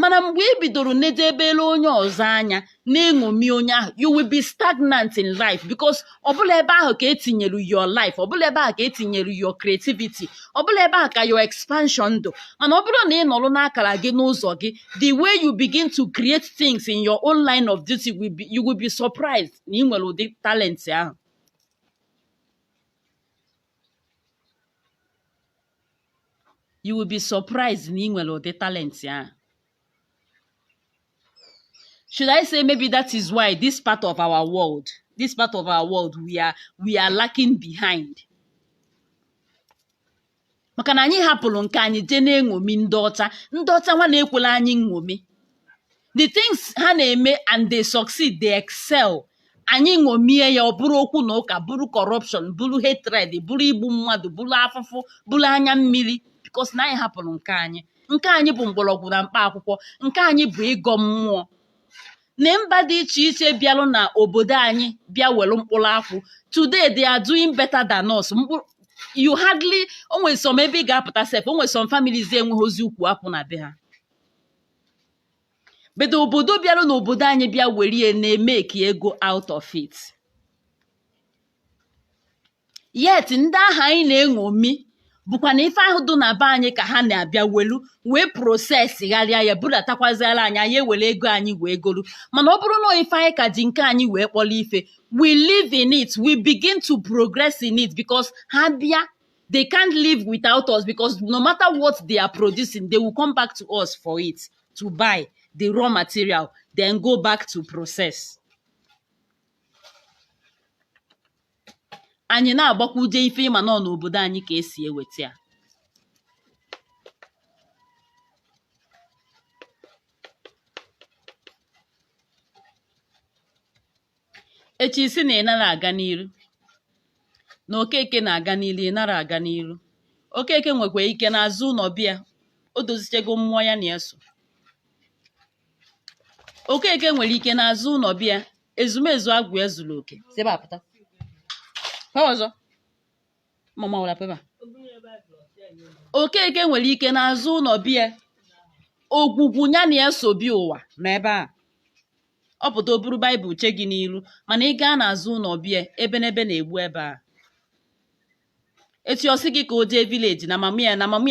mana mgbe ị bidoro nedebere onye ọzọ anya na-eṅomi onye ahụ you will be stagnant in life because ọ bụrọ ebe ahụ ka etinyere your life ọ bụrọ ebe ahụ ka etinyere your creativity ọ bụrọ ebe ahụ ka your expansion dụ mana ọ bụrụ na ị nọrọ n'akara gị n'ụzọ gị the way you begin to create things in your own line of duty will be, you will be surprised na ị nwere ụdị talent ahụ you will be surprised na ị nwere ụdị talent ahụ should i say maybe that is why this part of our world this part of our world we are we are lacking behind maka na anyị hapụrụ nke anyị jee na-eṅomi ndị ọcha ndị ọcha nwa na-ekwela anyị nṅomi the things ha na-eme and they succeed they excel anyị ṅomie ya ọ bụrụ okwu na ụka bụrụ corruption bụrụ hatred bụrụ igbu mmadụ bụrụ afụfụ bụrụ anya mmiri because na anyị hapụrụ nke anyị nke anyị bụ mgbọrọgwụ na mkpa akwụkwọ nke anyị bụ ịgọ mmụọ na mba dị iche iche bịalụ na obodo anyị bịa were mkpụrụ akwụ today they are doing better than us you hardly o nwe some ebe ị ga-apụta sef o nwe some families enwehọzi ukwu akwụ na be ha but obodo bịara n'obodo anyị bịa were ya na-emeki ego out of it yet ndị ahụ anyị na-eṅomi bụkwa na ife ahụ dị na be anyị ka ha na-abịa welu wee prosesi gharịa ya budatakwazịara anyị anyị ewere ego anyị wee golu mana ọ bụrụ na ife anyị ka ji nke anyị wee kpọrọ ife we live in it we begin to progress in it because ha bịa they can't live without us because no matter what they are producing they will come back to us for it to buy the raw material then go back to process anyị na-agbakwuje ife ị ma na ọ n'obodo anyị ka e si eweta ya echi isi na ị nara aga n'iru na okeke na-aga n'iru ị nara aga n'iru okeke nwekwa ike n'azụ ụlọ be ya o dozichego mmụọ ya na ya so okeke nwere ike n'azụ ụlọ be ya ezumezu agwụ ya zuru oke sebe apụta ọzọ mama wara pepa okeke nwere ike n'azụ ụlọ be ya ogwugwu ya na ya so bịa ụwa na ebe a ọ pụta o buru baịbụl che gị n'iru mana ị gaa n'azụ ụlọ be ya ebenebe na-egbu ebe a etu ọ sị gị ka o jee vileji na mama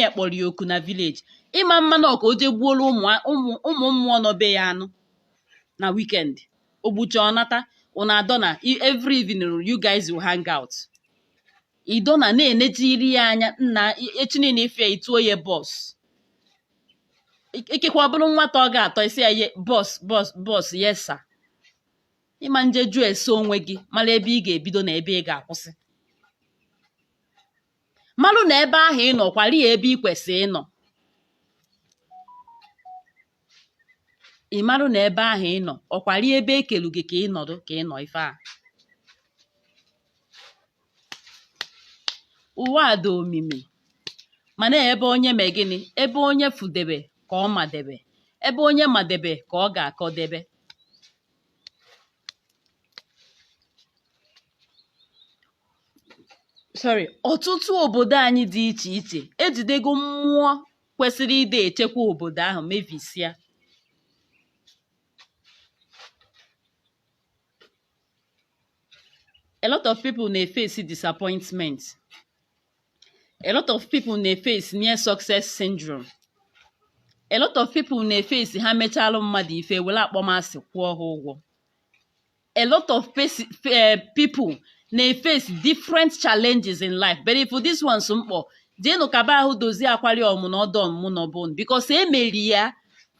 ya kpọrọ ya oku na vileji ị ma-ama na ọ ka o jee gbuoro ụmụ mmụọ nọ be ya anụ na wikendi o gbucha ọ nata ụna adọ na every evening you guys will hang out ido na na-enejiri ya anya nna echi niile ị fụ ya i tuo ya bọs ikekwe ọ bụrụ nwata ọ ga-atọ isi ya ye bọs bọs bọs yesa ịma nje jụọ ese onwe gị mara ebe ị ga-ebido na ebe ị ga-akwụsị malụ na ebe ahụ ị nọ ọ kwari ya ebe ị kwesịrị ịnọ ị malụ na ebe ahụ ị nọ ọ kwari ebe e kelu gị ka ị nọdụ ka ị nọ ife ụwa a dị omimi mana ebe onye mee gịnị ebe onye fụdebe ka ọ madebe ebe onye madebe ka ọ ga-akọdebe sorry ọtụtụ obodo anyị dị iche iche ejidego mmụọ kwesịrị ịdị echekwa obodo ahụ mebisia a lot of people na-efesi disappointment a lot of people na-efesi near success syndrome a lot of people na-efesi ha mechalụ mmadụ ife were akpọmasị kwụọ ha ụgwọ a lot of people na-efesi different challenges in life but if this one so mkpọ jeenụ kaba ahụ dozie akwari ọmụ na ọdọ ọmụmụ na ọbụn because e mere ya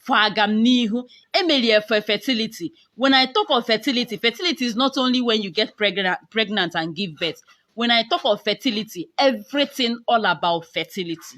for agamnihu e mere ya for fertility when i talk of fertility fertility is not only when you get pregnant and give birth when i talk of fertility everything all about fertility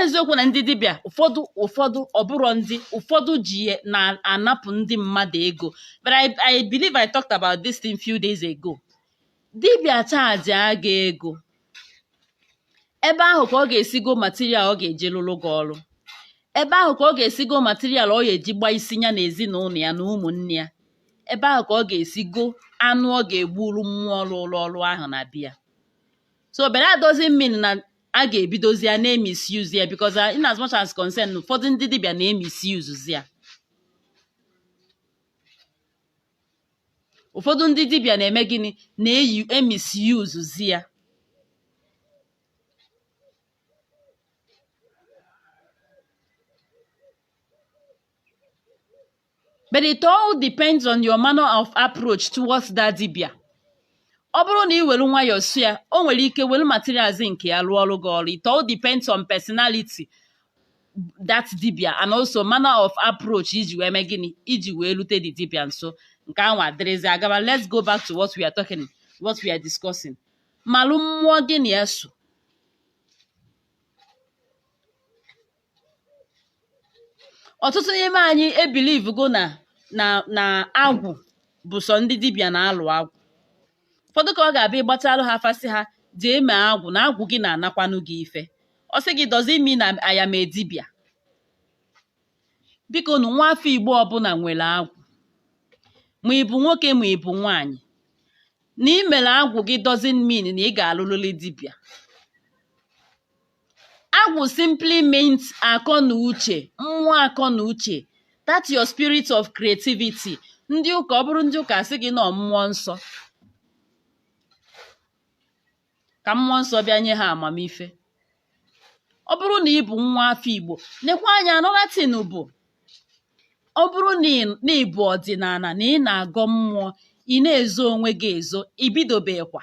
eziokwu na ndị dibịa ụfọdụ ụfọdụ ọ bụrụ ndị ụfọdụ ji na-anapụ ndị mmadụ ego but I believe I talked about this thing few days ago dibịa chajịa gị ego ebe ahụ ka ọ ga-esi go material ọ ga-eji lụrụ gị ọrụ ebe ahụ ka ọ ga-esi go material ọ ga-eji gba isi ya na ezinụlọ ya na ụmụnne ya ebe ahụ ka ọ ga-esi go anụ ọ ga-egburu mmụọ rụlụ ọrụ ahụ na be ya so but that doesn't mean na a ga-ebidozi ya na-emisuse ya because uh, in as much as concern ụfọdụ ndị dibịa na-emisuse ya ụfọdụ ndị dibịa na-eme gịnị na-emisuse ya but it all depends on your manner of approach towards that dibia ọ bụrụ na ị were nwayọọ su ya o nwere ike were materials nke ya rụọrụ gị ọrụ it all depends on personality that dibia and also manner of approach i ji wee mee gịnị i ji wee rute the dibia nso nke ahụ adịrịzi agaba let's go back to what we are talking what we are discussing malụ mmụọ gị na ya so ọtụtụ n'ime anyị ebelieve go na na na agwụ bụ sọ ndị dibịa na-alụ agwụ ụfọdụ ka ọ ga-abịa ịgbatalụ ha afa sị ha jee mee agwụ na agwụ gị na-anakwanụ gị ife ọ sị gị does it mean na aya m eme dibịa biko nụ nwa afọ igbo ọbụla nwere agwụ ma ị bụ nwoke ma ị bụ nwaanyị na ị mere agwụ gị doesn't mean na ị ga-alụlụli dibịa Agwụ simply means akọ na uche mmụọ akọ na uche that your spirit of creativity ndị ụka ọ bụrụ ndị ụka sị gị na ọ mmụọ nsọ ka mmụọ nsọ bịa nye ha amamife ọ bụrụ na ị bụ nwa afọ Igbo nekwa anya another thing bụ ọ bụrụ na ị bụ ọdịnala na ị na-agọ mmụọ ị na-ezo onwe gị ezo ibidobekwa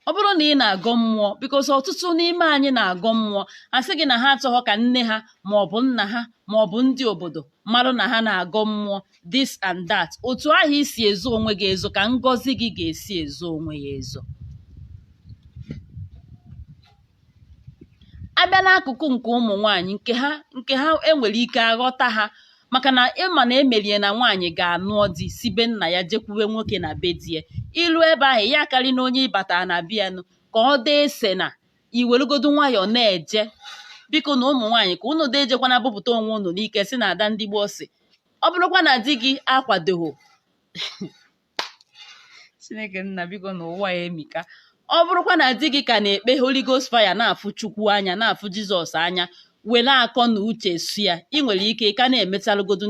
ọ bụrụ na ị na-agọ mmụọ because ọtụtụ n'ime anyị na-agọ mmụọ a sị gị na ha achọghọ ka nne ha ma ọ bụ nna ha ma ọ bụ ndị obodo marụ na ha na-agọ mmụọ this and that otu ahụ i si ezo onwe gị ezo ka ngọzi gị ga-esi ezo onwe ya ezo a bịa n'akụkụ nke ụmụ nwanyị nke ha nke ha e nwere ike aghọta ha maka na ị ma na e melu ya na nwaanyị ga-anụọ di si be nna ya jekwuwe nwoke na be di ya i lue ebe ahụ ya akarị na onye ị bata na be ya nụ ka ọ dee ese na i welugodu nwayọọ na-eje biko na ụmụ nwaanyị ka unu dee jekwana bupụta onwe unu n'ike sị na ada ndị gboo sị ọ bụrụkwa na di gị akwadoghị chineke nna biko na ụwa ya emika ọ bụrụkwa na di gị ka na-ekpe Holy Ghost fire na-afụ Chukwu anya na-afụ Jizọs anya were akọ na uche su ya ị nwere ike ka na-emechalụgodu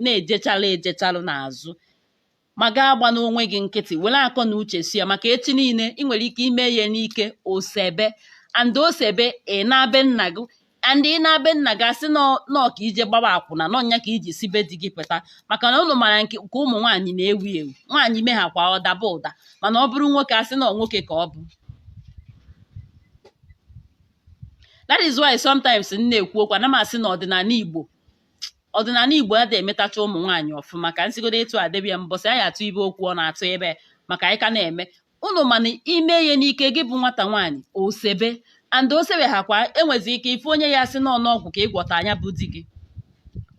na-ejechalụ ejechalụ n'azụ ma gị agbana onwe gị nkịtị were akọ na uche su ya maka echi niile ị nwere ike ime ya n'ike o sebe and o sebe ị naa be nna gị and ị naa be nna gị asị na ọ ka i je gbaba akwụna na ọ ya ka i ji si be di gị pụta maka na ụnụ mara nke ụmụ nwaanyị na-ewu ewu nwaanyị mehakwa ọ daba ụda mana ọ bụrụ nwoke asị na ọ nwoke ka ọ bụ that is why sometimes m na-ekwu okwu ana m asị na ọdịnala igbo ọdịnala igbo ada emetacha ụmụ nwaanyị ọfụma ka m sigodo etu a debie mbọsị anyị atụ ibe okwu ọ na-atụ ibe maka anyị ka na-eme ụnụ ma na ime ihe n'ike gị bụ nwata nwaanyị o sebe and o sebehakwa e nwezi ike ife onye ya asị na ọ ọgwụ ka ị gwọtaa nya bụ di gị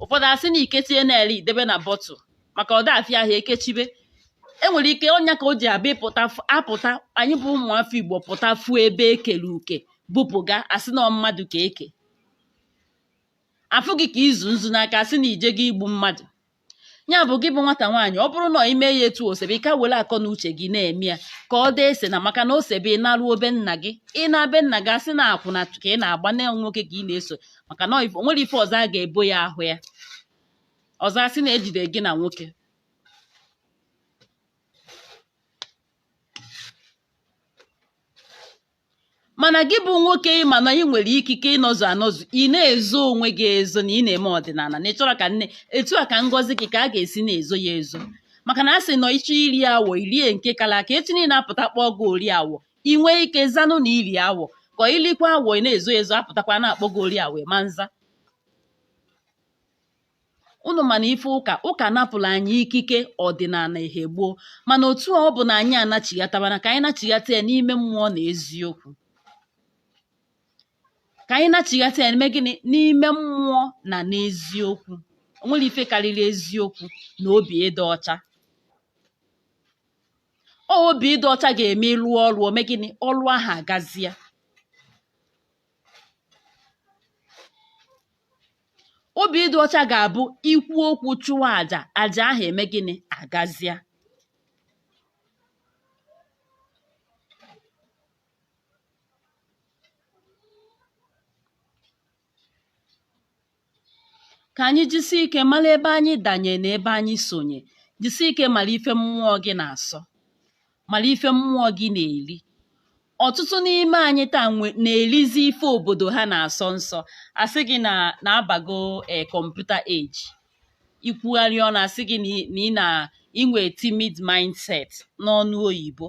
ụfọdụ asị na i kechie na-ele i debe na bottle maka ọ da afịa ahụ e kechibe e nwere ike ọ nya ka o ji abụ ị pụta f- a pụta anyị bụ ụmụafọ igbo pụta fụ ebe e kere uke bupụga asị na ọ mmadụ ka e ke a fụ gị ka izu nzu n'aka asị na i jega igbu mmadụ ya bụ gị bụ nwata nwaanyị ọ bụrụ na ị mee ya etu o sebe ị ka were akọ na uche gị na-eme ya ka ọ dee esena maka na o sebe ị naruo be nna gị ị naa be nna gị asị na akwụna ka ị na-agba na nwoke ka ị na-eso maka na o nwere ife ọzọ a ga-ebo ya a hụ ya ọzọ asị na e jide gị na nwoke mana gị bụ nwoke ị ma na ị nwere ikike ịnọzụ anọzụ ị na-ezo onwe gị ezo na ị na-eme ọdịnala na ị chọrọ ka nne etu a ka ngọzi gị ka a ga-esi na-ezo ya ezo maka na a sị na ị chọọ iri awọ i rie nke kala aka echi niile a pụta kpọọ gị ori awọ ị nwee ike zanụ na i ri awọ ka i likwa awọ ị na-ezo ezo a pụtakwa na-akpọ gị ori awọ ma nza unu ma na ife ụka ụka napụrụ anyị ikike ọdịnala ihe gboo mana otu ọ bụna anyị anachighatabana ka anyị nachighata ya n'ime mmụọ na eziokwu ka anyị nachighata ya n'ime gịnị n'ime mmụọ na n'eziokwu o nwere ife karịrị eziokwu na obi ịdị ọcha ọ obi ịdị ọcha ga-eme ị lụọ ọrụ o mee gịnị ọrụ ahụ agazia obi ịdị ọcha ga-abụ i kwuo okwu chụwa aja aja ahụ emee gịnị agazia ka anyị jisie ike mara ebe anyị danye na ebe anyị sonye jisie ike mara ife mmụọ gị na-asọ mara ife mmụọ gị na-eri ọtụtụ n'ime anyị taa na-erizi ife obodo ha na-asọ nsọ asị gị na na-abago e kọmputa eji ikwugharị ọnụ a sị gị na ị na i nwe timid mindset n'ọnụ oyibo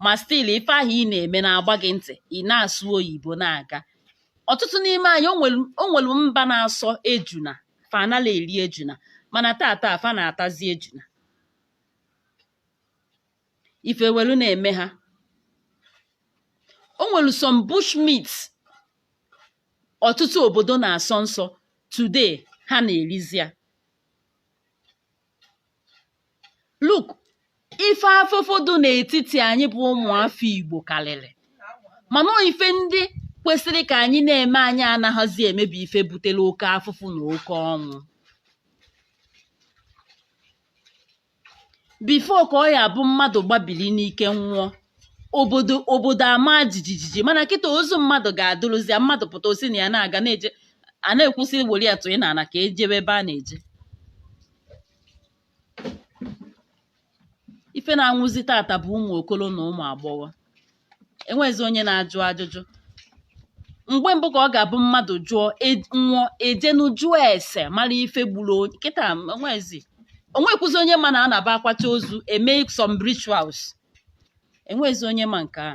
ma still ife ahụ ị na-eme na-agba gị ntị ị na-asụ oyibo na-aga ọtụtụ n'ime anyị o nwere mba na-asọ ejuna fa anala eri ejuna mana tata fa na-atazi ejuna ife welu na-eme ha o nwere some bushmeat ọtụtụ obodo na-asọ nsọ today ha na-erizi ya look ife afụfụ dị n'etiti anyị bụ ụmụafọ Igbo karịrị mana ọ ife ndị kwesịrị ka anyị na-eme anyị anaghịzi eme bụ ife butere oke afụfụ na oke ọnwụ before ka ọ ya-abụ mmadụ gbabili n'ike nwụọ obodo obodo amaa jijijiji mana kịta ozu mmadụ ga-adụrụzia mmadụ pụta o si na ya na-aga na-eje a na-ekwu sị were ya tụnye n'ala ka e jebe ebe a na-eje ife na-anwụzi tata bụ ụmụ okoro na ụmụ agbọghọ enweghịzi onye na-ajụ ajụjụ mgbe mbụ ka ọ ga-abụ mmadụ jụọ e- nwụọ e jenu jụọ ese mara ife gburu onye kịta enweghịzi o nwekwuzi onye ma na a na-abụ a kwacha ozu e mee some rituals enweghịzi onye ma nke a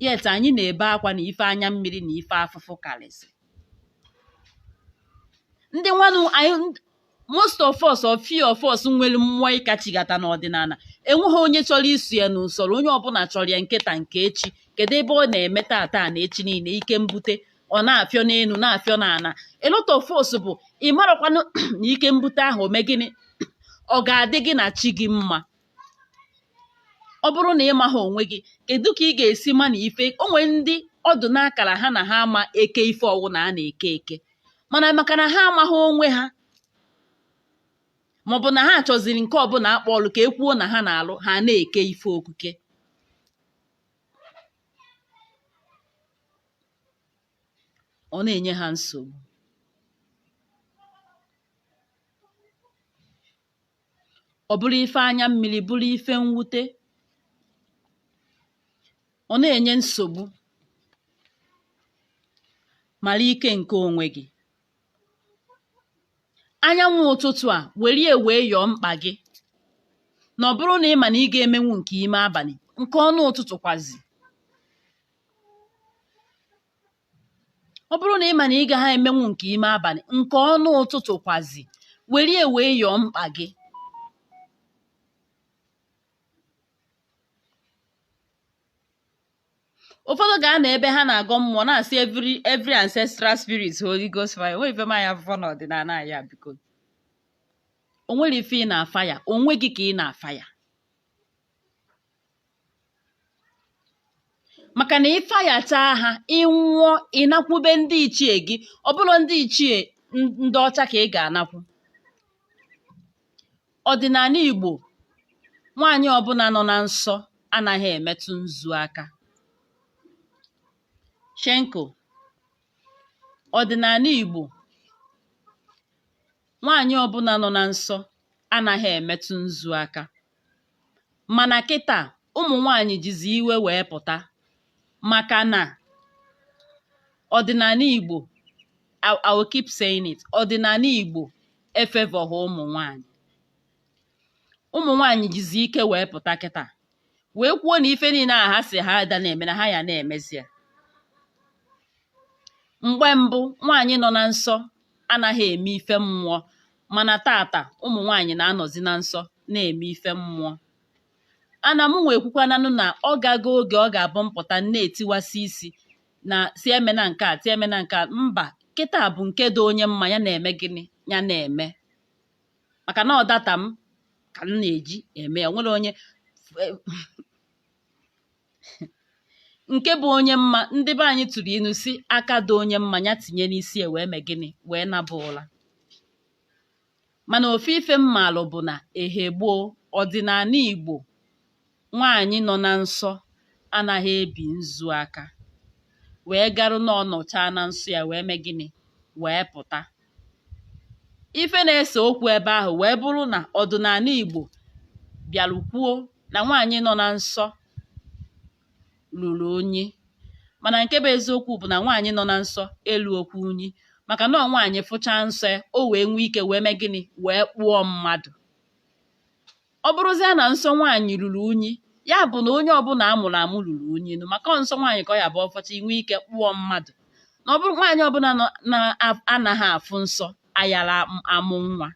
yet anyị na-ebe akwa na ife anya mmiri na ife afụfụ karịsị ndị nwanụ anyị most of us or few of us nwere mmụọ ịkachigata n'ọdịnala enweghị onye chọrọ iso ya n'usoro onye ọbụla chọrọ ya nke taa nke echi kedu ebe ọ na-eme tata na echi niile ike mbute ọ na-afịọ n'elu na-afịọ n'ala a lot of us bụ ị marakwanụ na ike mbute ahụ o mee gịnị ọ ga-adị gị na chi gị mma ọ bụrụ na ị maghị onwe gị kedu ka ị ga-esi ma na ife o nwere ndị ọ dụ n'akara ha na ha ama eke ife ọwụna a na-eke eke mana maka na ha amaghị onwe ha maọbụ na ha chọziri nke ọbụla a kpọ ọlụ ka e kwuo na ha na-alụ ha na-eke ife okuke ọ na-enye ha nsogbu ọ bụrụ ife anya mmiri bụrụ ife mwute ọ na-enye nsogbu mara ike nke onwe gị anyanwụ ụtụtụ a were ya wee yọọ mkpa gị na ọ bụrụ na ị ma na ị ga-emenwu nke ime abalị nke ọnụ ụtụtụ kwazi ọ bụrụ na ị ma na ị gaghị emenwu nke ime abalị nke ọnụ ụtụtụ kwazi were ya wee yọọ mkpa gị ụfọdụ ga-anọ ebe ha na-agọ mmụọ na-asị every ancestral spirit holy ghost fire o nwere ife manya afụfọ n'ọdịnala ya biko o nwere ife ị na-afire onwe gị ka ị na-afire maka na ịfayacha ha ị nwụọ ị nakwube ndị ichie gị ọ bụrọ ndị ichie n- ndị ọcha ka ị ga-anakwu ọdịnala igbo nwaanyị ọbụla nọ na nsọ anaghị emetụ nzu aka shenko ọdịnala igbo nwaanyị ọbụla nọ na nsọ anaghị emetụ nzu aka mana kịta ụmụ nwanyị jizi iwe wee pụta maka na ọdịnala Igbo I, I will keep saying it ọdịnala Igbo efavourghị ụmụ nwanyị ụmụ nwanyị jizi ike wee pụta kịta wee kwuo na ife niile a ha sị ha ada na-eme na ha ya na-emezi ya mgbe mbụ nwaanyị nọ na nsọ anaghị eme ife mmụọ mana taata ụmụ nwaanyị na-anọzi na nsọ na-eme ife mmụọ ana m nwe ekwukwananụ na ọ gago oge ọ ga-abụ m pụta na-etiwasị isi na-asị emena nke a sị emena nke a mba kịta bụ nke dị onye mma ya na-eme gịnị ya na-eme maka na ọ data m ka m na-eji eme ya nwere onye nke bụ onye mma ndị be anyị tụrụ inu sị aka dị onye mma ya tinye n'isi ya wee mee gịnị wee naba ụla mana ofu ife m malụ bụ na ehe gboo ọdịnala igbo nwaanyị nọ na nsọ anaghị ebi nzu aka wee garuo na ọ nọchaa na nsọ ya wee mee gịnị wee pụta ife na-ese okwu ebe ahụ wee bụrụ na ọdịnala Igbo bịara kwuo na nwaanyị nọ na nsọ ruru unyi mana nke bụ eziokwu bụ na nwaanyị nọ na nsọ erurọkwa unyi maka na ọ nwaanyị fụchaa nsọ ya o wee nwee ike wee mee gịnị wee kpụọ mmadụ ọ bụrụzie na nsọ nwaanyị ruru unyi ya bụ na onye ọbụla a mụrụ amụ ruru unyi nụ maka ọ nsọ nwaanyị ka ọ ya-abụ ọ fụchaa o nwee ike kpụọ mmadụ na ọ bụrụ nwaanyị ọbụla na-anaghị afụ nsọ ayara amụ nwa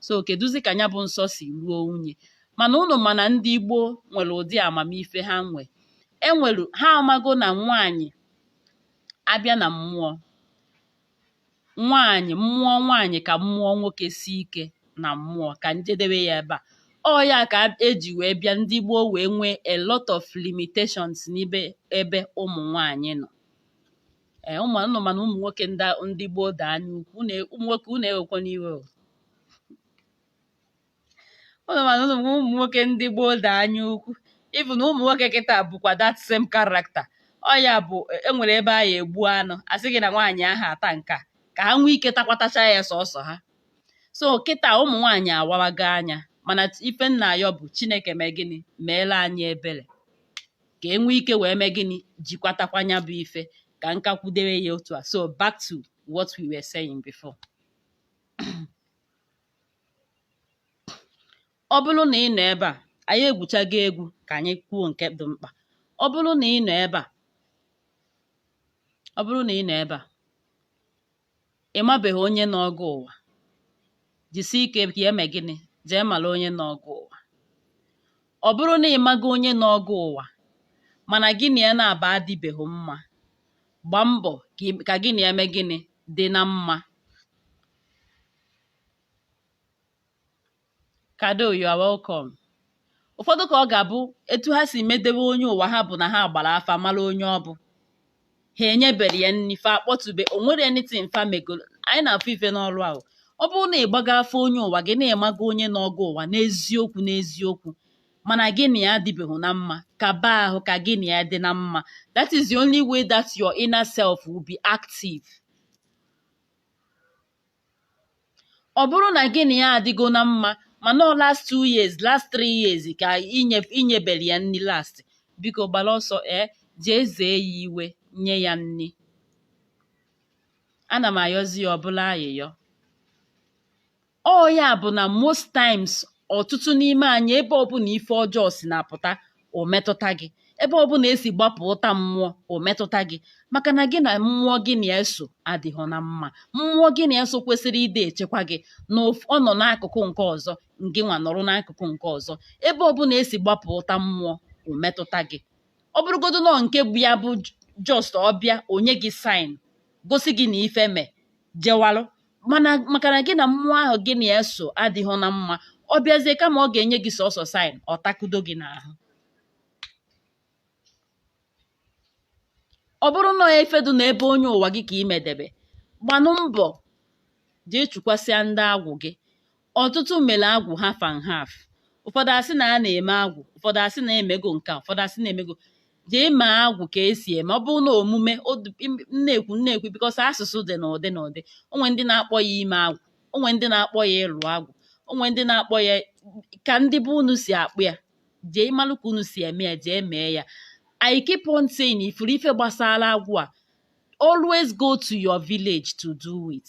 so kedụzi ka ya bụ nsọ si ruo unyi mana unu ma na ndị Igbo nwere ụdị amamife ha nwe enwere ha amago na nwaanyị a bịa na mmụọ nwaanyị mmụọ nwaanyị ka mmụọ nwoke si ike na mmụọ ka m jedebe ya ebe a ọ ya ka eji wee bịa ndị gboo wee nwee a lot of limitations n'ebe ebe ụmụ nwaanyị nọ ee unu ma na ụmụ nwoke ndị ndị gboo dị anya ukwu ụmụ nwoke unu ewekwana iwe o unu ma na ụmụ nwoke ndị gboo da anya ukwu even na ụmụ nwoke kịta bụkwa that same character ọ ya bụ enwere ebe a ya egbu anụ asị gị na nwaanyị aha ata nke a ka ha nwee ike takwatacha ya sọsọ ha so kịta ụmụ nwaanyị awawago anya mana ife m na-ayọ bụ chineke mee gịnị meela anyị ebere ka e nwee ike wee mee gịnị jikwatakwa ya bụ ife ka nka kwudere ya otu a so back to what we were saying before ọ bụrụ na ị nọ ebe a anyị egwuchago egwu ka anyị kwuo nke dị mkpa ọ bụrụ na ị nọ ebe a ọ bụrụ na ị nọ ebe a ị mabeghị onye nọọ gị ụwa jisie ike ka i mee gịnị jee mara onye nọọ gị ụwa ọ bụrụ na ị mago onye nọọ gị ụwa mana gị na ya naabọ adịbeghị mma gbaa mbọ ka ị- ka gị na ya mee gịnị dị na mma Kado, you are welcome. ụfọdụ ka ọ ga-abụ etu ha si medewe onye ụwa ha bụ na ha gbara afa mara onye ọ bụ ha enyebere ya nri fa akpọtube o nwere anything fa megoro anyị na-afụ ife n'ọrụ a ọ bụrụ na ị gbago afa onye ụwa gị na ị mago onye nọọ gị ụwa n'eziokwu n'eziokwu mana gị na ya adịbeghị na mma kaba ahụ ka gị na ya dị na mma that is the only way that your inner self will be active. ọ bụrụ na gị na ya adịgo na mma mana ọ last two years last three years ka i nyebere ya nri last biko gbara ọsọ ee jee zee ya iwe nye ya nri ana m ayọzi ya ọbụla ayịyọ ọ ya bụ na most times ọtụtụ n'ime anyị ebe ọbụla ife ọjọọ si na-apụta o metụta gị ebe ọ bụla esi gbapụ ụta mmụọ o metụta gị maka na gị na mmụọ gị na-eso adịghị na mma mmụọ gị na-eso kwesịrị ịdị echekwa gị na ọ nọ n'akụkụ nke ọzọ ngị nwa nọrọ n'akụkụ nke ọzọ ebe ọ bụla esi gbapụ ụta mmụọ o metụta gị ọ bụrụgodu na ọ nke bụ ya bụ just ọ bịa ọ nye gị sign gosi gị na ife mee jewalụ maka na gị na mmụọ ahụ gị na ya so adịghị na mma ọ bịazie kama ọ ga-enye gị sọsọ sign ọ takudo gị n'ahụ ọ bụrụ na efedu na ebe onye ụwa gị ka i medebe gbanụ mbọ jee chụkwasịa ndị agwụ gị ọtụtụ mere agwụ half and half ụfọdụ asị na a na-eme agwụ ụfọdụ asị na emego nke a ụfọdụ asị na emego jee ma agwụ ka esi eme ọ bụrụ na omume na-ekwu na-ekwu because asụsụ dị n'ụdị n'ụdị o nwe ndị na-akpọ ya ime agwụ o nwe ndị na-akpọ ya ịlụ agwụ o nwe ndị na-akpọ ya ka ndị be unu si akpọ ya jee malụ ka unu si eme ya jee mee ya I keep on saying ị fụrụ ife gbasara agwụ a always go to your village to do it.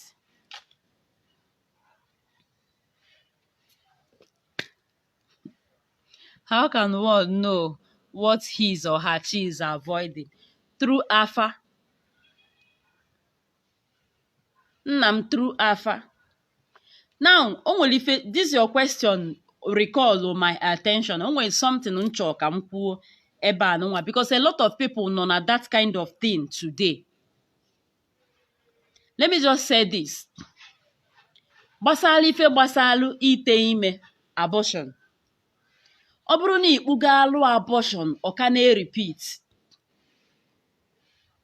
How can one know what his or her chi is avoiding? Through afa. Nna m through afa. Now, o nwere ife this your question recall my attention. O nwere something m chọ ka m kwuo ebe a nwa because a lot of people nọ na that kind of thing today. let me just say this gbasara ife gbasalụ ite ime abortion ọ bụrụ na ị kpụgo alụ abortion ọ ka na-erepeat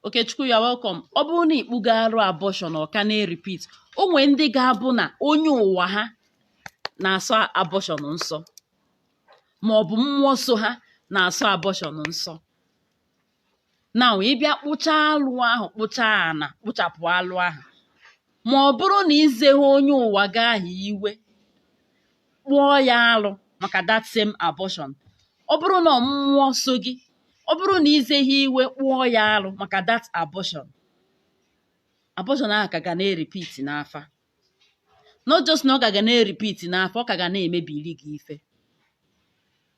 Okechukwu you are welcome ọ bụrụ na ị kpụgo alụ abortion ọ ka na-erepeat o nwee ndị ga-abụ na onye ụwa ha na-asọ abortion nsọ ma ọ bụ mmụọ so ha na-asọ abortion nsọ now ị bịa kpụchaa alụ ahụ kpụchaa ana kpụchapụ alụ ahụ ma ọ bụrụ na izeghị onye ụwa gị ahụ iwe kpụọ ya alụ maka that same abortion ọ bụrụ na ọ mmụọ so gị ọ bụrụ na izeghị iwe kpụọ ya alụ maka that abortion abortion ahụ ka ga na-erepeat n'afa not just na ọ ka ga na-erepeat n'afa ọ ka ga na-emebiri gị ife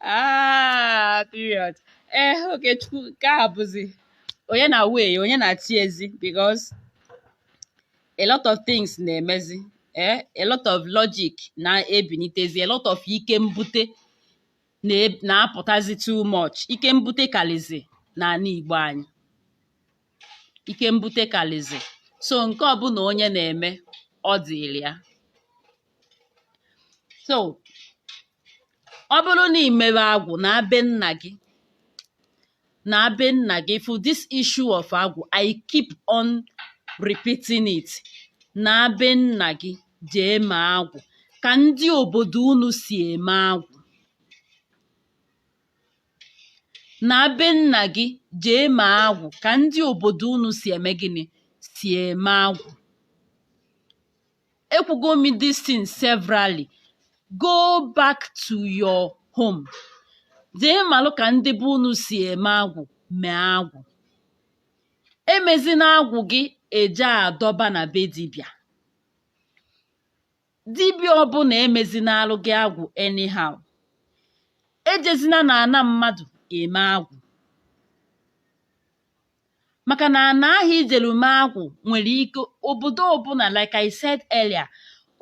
ah, period ee eh, Okechukwu nke a bụzi onye na way ya onye na chi ya zi because a lot of things na-emezi eh, a lot of logic na-ebinitezi a lot of ike mbute na-apụtazi too much ike mbute kalizi n'ana Igbo anyị ike mbute kalizi so nke ọbụla onye na-eme ọ dịlị ya so ọ bụrụ na ị mere agwụ na be nna gị na be nna gị for this issue of agwụ I keep on repeating it na be nna gị jee mee agwụ ka ndị obodo unu si eme agwụ na be nna gị jee mee agwụ ka ndị obodo unu si eme gịnị si eme agwụ ekwugo m this thing severally go back to your home jee malụ ka ndị be unu si eme agwụ mee agwụ emezina agwụ gị eje adọba na be dibịa dibịa ọbụla emezinalụ gị agwụ anyhow ejezina na ana mmadụ eme agwụ maka na ana ahụ ijelu mee agwụ nwere ike obodo ọbụla like I said earlier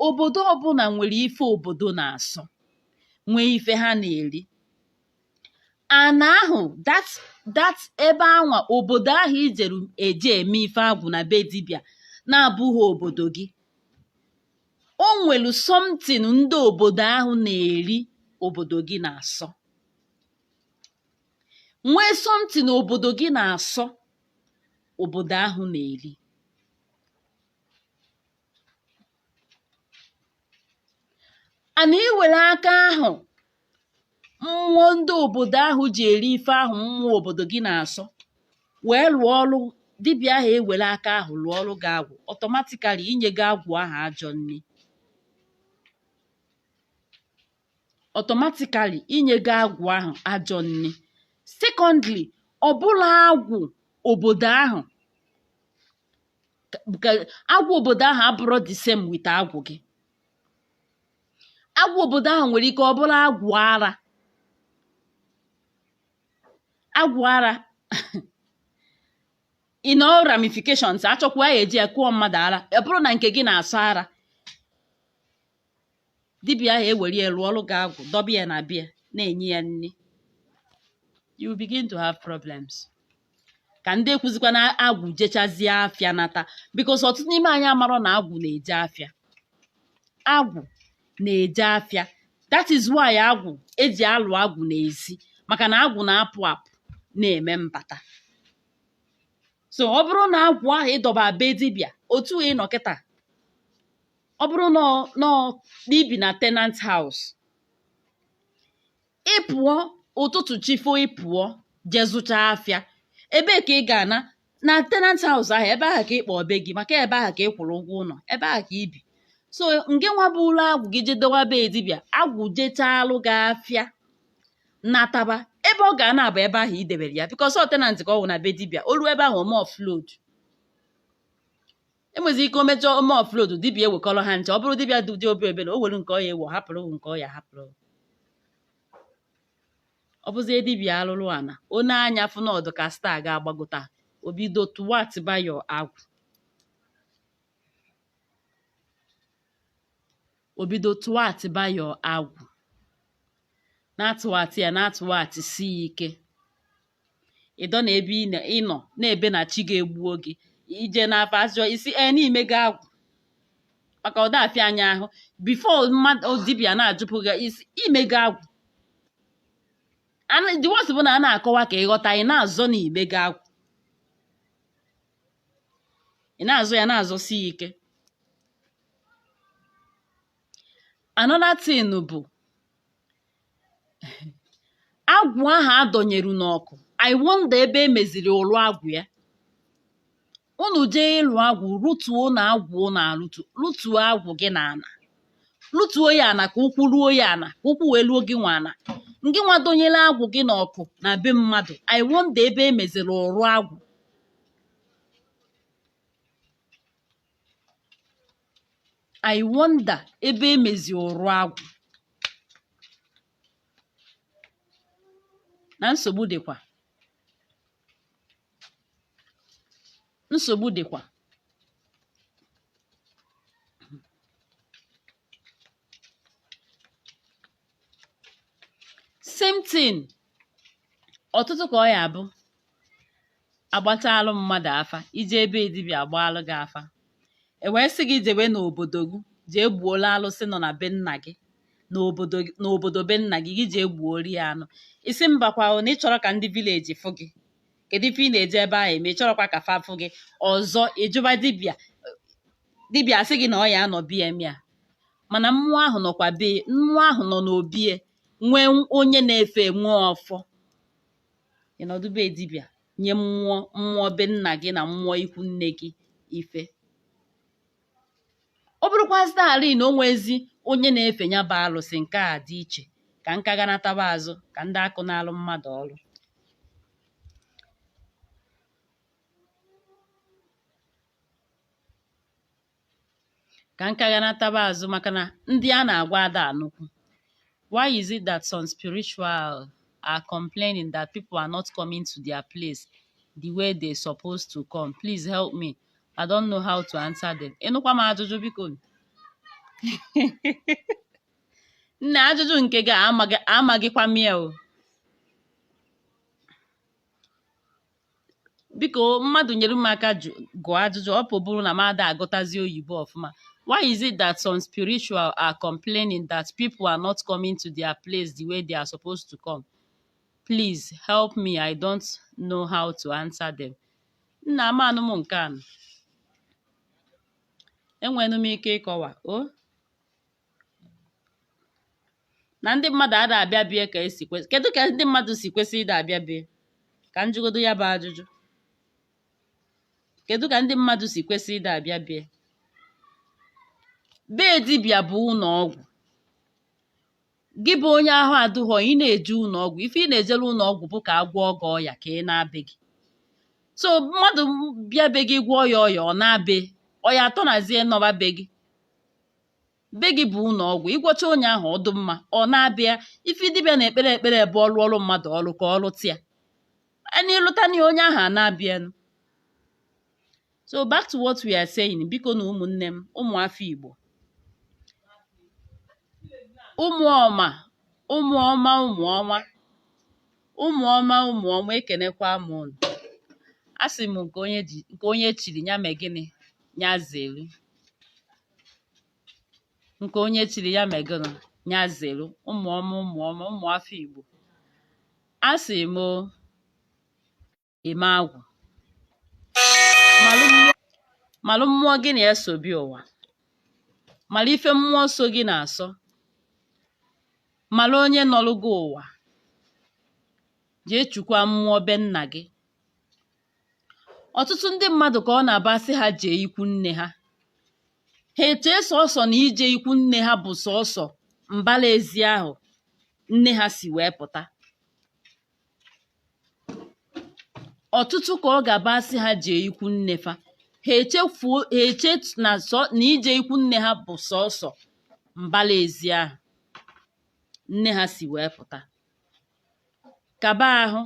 obodo ọbụla nwere ife obodo na-asọ nwee ife ha na-eri ana ahụ that that ebe anwa obodo ahụ ijelu eje eme ife agwụ na be dibịa na-abụghị obodo gị o nwere something ndị obodo ahụ na-eri obodo gị na-asọ nwee something obodo gị na-asọ obodo ahụ na-eri ana iwere aka ahụ mmụọ ndị obodo ahụ ji eri ife ahụ mmụọ obodo gị na-asọ wee lụọ ọrụ dibịa ahụ ewere aka ahụ lụọlụ gị agwụ automatically inyego agwụ ahụ ajọ nni automatically inyego agwụ ahụ ajọ nni secondly ọ bụrụ agwụ obodo ahụ agwụ obodo ahụ abụrọ the same with agwụ gị agwụ obodo ahụ nwere ike ọ bụrụ agwụ ara agwụ ara in all ramifications achọkwa ya eji ya kụọ mmadụ ara ọ bụrụ na nke gị na-asọ ara dibịa ahụ ewere ya lụọlụ gị agwụ dọba ya na be ya na-enye ya nri you begin to have problems ka ndị ekwuzikwa na agwụ jechazie afịa nata because ọtụtụ n'ime anyị amarọ na agwụ na-eje afịa agwụ na-eje afịa that is why agwụ eji alụ agwụ n'ezi maka na agwụ na-apụ apụ na-eme mbata so ọ bụrụ na agwụ ahụ ịdọba be dibịa otu ị nọ kịta ọ bụrụ na ọ- na ọ- na ibi na tenant house ị pụọ ụtụtụ chifo ị pụọ jee zụchaa afịa ebee ka ị ga-ana na tenant house ahụ ebe ahụ ka ị kpọọ be gị maka ebe ahụ ka ị kwụrụ ụgwọ ụlọ ebe ahụ ka ibi so ngị nwa bulu agwụ gị jee dowa be dibịa agwụ jechalụ gị afịa nataba ebe ọ ga-ana bụ ebe ahụ i debere ya because ọ tenant ka ọ wụ na be dibịa o ruo ebe ahụ ome offload enwezi ike omejọ ome offload dibịa ewekọrọ ha ncha ọ bụrụ dibịa dị obi ebere o were nke ọ ya-ewe ọ hapụrụ nke ọ ya-ahapụrụ ọ bụzie dibịa arụrụ ana onye anya ụfụ nọdụ ka star ga-agbagota o bido tụwatịba ya agwụ obido tụwatịba ya agwụ na-atụwatị ya na-atụwatịsi ike ịdọ na ebe ịnọ na-ebe na chi ga-egbuo gị ije n'afa azọ isi e n'ime gị agwụ maka ọ da afịa anyị ahụ before mmadụ dibịa na-ajụpụ gị isi ime gị agwụ the worst bụ na a na-akọwa ka ịghọta ị na-azọ na ime gị agwụ ị na-azọ ya na-azọsi ike another thing bụ agwụ ahụ adọnyeru n'ọkụ i wonder ebe emeziri ụlụ agwụ ya unu jee ịlụ agwụ rụtuo na agwụ na alụtu rụtuo agwụ gị na ana rụtuo ya ana ka ụkwụ ruo ya ana ka ụkwụ wee luo gị nwa ana ngị nwa donyere agwụ gị n'ọkụ na be mmadụ i wonder ebe emeziri ụlụ agwụ I wonder ebe emezi ụrụ agwụ na nsogbu dịkwa nsogbu dịkwa same thing ọtụtụ ka ọ ya-abụ agbatalụ mmadụ afa ije ebe dibịa agbaalụ gị afa e wee sị gị jewe n'obodo gị jee gbuola alụsị nọ na be nna gị n'obodo be nna gị gị jee gbuori ya anụ ị sị mbakwa na ị chọrọ ka ndị village fụ gị kedu ife ị na-eje ebe ahụ eme ị chọrọkwa ka fa fụ gị ọzọ ị jụba dibịa asị gị na ọ ya-anọ be ya mee ya mana mmụọ ahụ nọkwa be mmụọ ahụ nọ n'obie nwee onye na-efe e nwe ọfọ ị nọdụ be dibịa nye mmụọ mmụọ be nna gị na mmụọ ikwu nne gị ife ọ bụrụkwazị ala na o nwezi onye na-efe ya bụ alụsị nke a dị iche ka nka ga-anataba azụ ka ndị akụ na-alụ mmadụ ọrụ ka nka ga-anataba azụ maka na ndị a na-agwa ada anụkwu why is it that some spiritual are complaining that people are not coming to their place the way they supposed to come please help me i don't know how to answer them ịnụkwa m ajụjụ biko nna ajụjụ nke gị amaghịkwa m ya o biko mmadụ nyere m aka gụọ ajụjụ ọ pụbụrụ na m ada agụtazi oyibo ọfụma why is it that some spiritual are complaining that people are not coming to their place the way they are supposed to come please help me i don't know how to answer them nna amanụ m nke a enwenụ m ike ịkọwa o na ndị mmadụ ada abịa bie ka esi kwesị kedu ka ndị mmadụ si kwesị ịda abịa bie ka m jụgodo ya bụ ajụjụ kedu ka ndị mmadụ si kwesị ịda abịa bie be dibịa bụ ụnọ ọgwụ gị bụ onye ahụ adụghọ ị na-eje ụnọ ọgwụ ife ị na-ejere ụnọ ọgwụ bụ ka agwọọ gị ọya ka ị naa be gị so mmadụ bịa be gị gwọọ ya ọya ọ naa bie ọ ya atọnazie nọba be gị be gị bụ ụnọ ọgwụ ị gwọcha onye ahụ ọ dụ mma ọ naa be ya ife dibịa na-ekpere ekpere bụ ọ rụọrụ mmadụ ọrụ ka ọ rụtịa anyị ịlụta na onye ahụ a na-abịanụ so back to what we are saying bikonụ ụmụnne m ụmụ afọ igbo ụmụ ọma ụmụ ọma ụmụ ọma ụmụ ọma ụmụ ọma ekenekwa m unu asị m nke onye ji nke onye chiri ya mee gịnị ya zere nke onye chiri ya mee gịnị ya zere ụmụ ọma ụmụ ọma ụmụ afọ Igbo asị m ime agwụ malụ mmụọ gị na ya so bịa ụwa mara ife mmụọ so gị na-asọ mara onye nọrụ gị ụwa jee chukwa mmụọ be nna gị ọtụtụ ndị mmadụ ka ọ na-abụ a sị ha jee ikwu nne ha ha echee sọsọ na ije ikwu nne ha bụ sọsọ mbala ezi ahụ nne ha si wee pụta ọtụtụ ka ọ ga-abụ a sị ha jee ikwu nne fa ha echefuo ha eche na sọ na ije ikwu nne ha bụ sọsọ mbala ezi ahụ nne ha si wee pụta kaba ahụ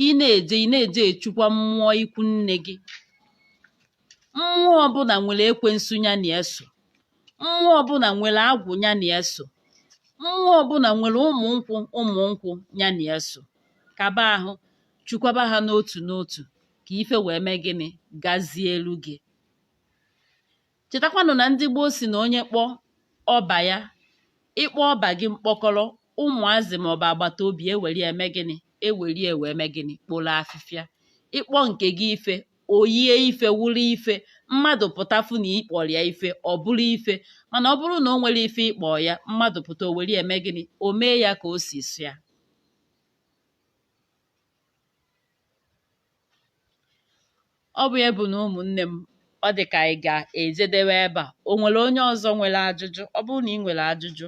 ị na-eje ị na-eje echukwa mmụọ ikwu nne gị mmụọ ọbụla nwere ekwensu ya na ya so mmụọ ọbụla nwere agwụ ya na ya so mmụọ ọbụla nwere ụmụ nkwụ ụmụ nkwụ ya na ya so kaba ahụ chukwaba ha n'otu n'otu ka ife wee mee gịnị gazielu gị chetakwanụ na ndị gboo si na onye kpọọ ọba ya ị kpọọ ọba gị mkpọkọrọ ụmụazị maọbụ agbata obi ewere ya mee gịnị ewere ya wee mee gịnị kporo afịfịa ị kpọọ nke gị ife o yie ife wụrụ ife mmadụ pụta fụ na ị kpọrọ ya ife ọ bụrụ ife mana ọ bụrụ na o nwere ife ị kpọ ya mmadụ pụta o were ya mee gịnị o mee ya ka o si sọ ya Ọ bụ ya bụ na ụmụnne m ọ dị ka anyị ga-ejedewe ebe a o nwere onye ọzọ nwere ajụjụ ọ bụrụ na ị nwere ajụjụ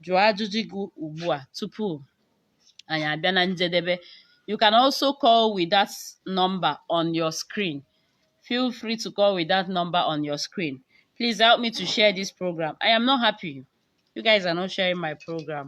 jụọ ajụjụ gị ugbu a tupu anyị abịa na njedebe you can also call with that number on your screen feel free to call with that number on your screen please help me to share this program i am not happy you guys are not sharing my program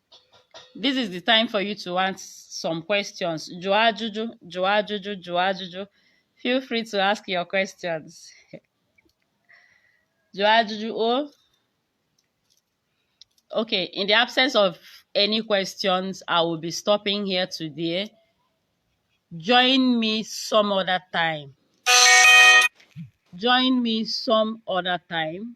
this is the time for you to ask some questions jụọ ajụjụ jụọ ajụjụ jụọ ajụjụ feel free to ask your questions jụọ ajụjụ o oh. okay in the absence of any questions i will be stopping here today join me some other time join me some other time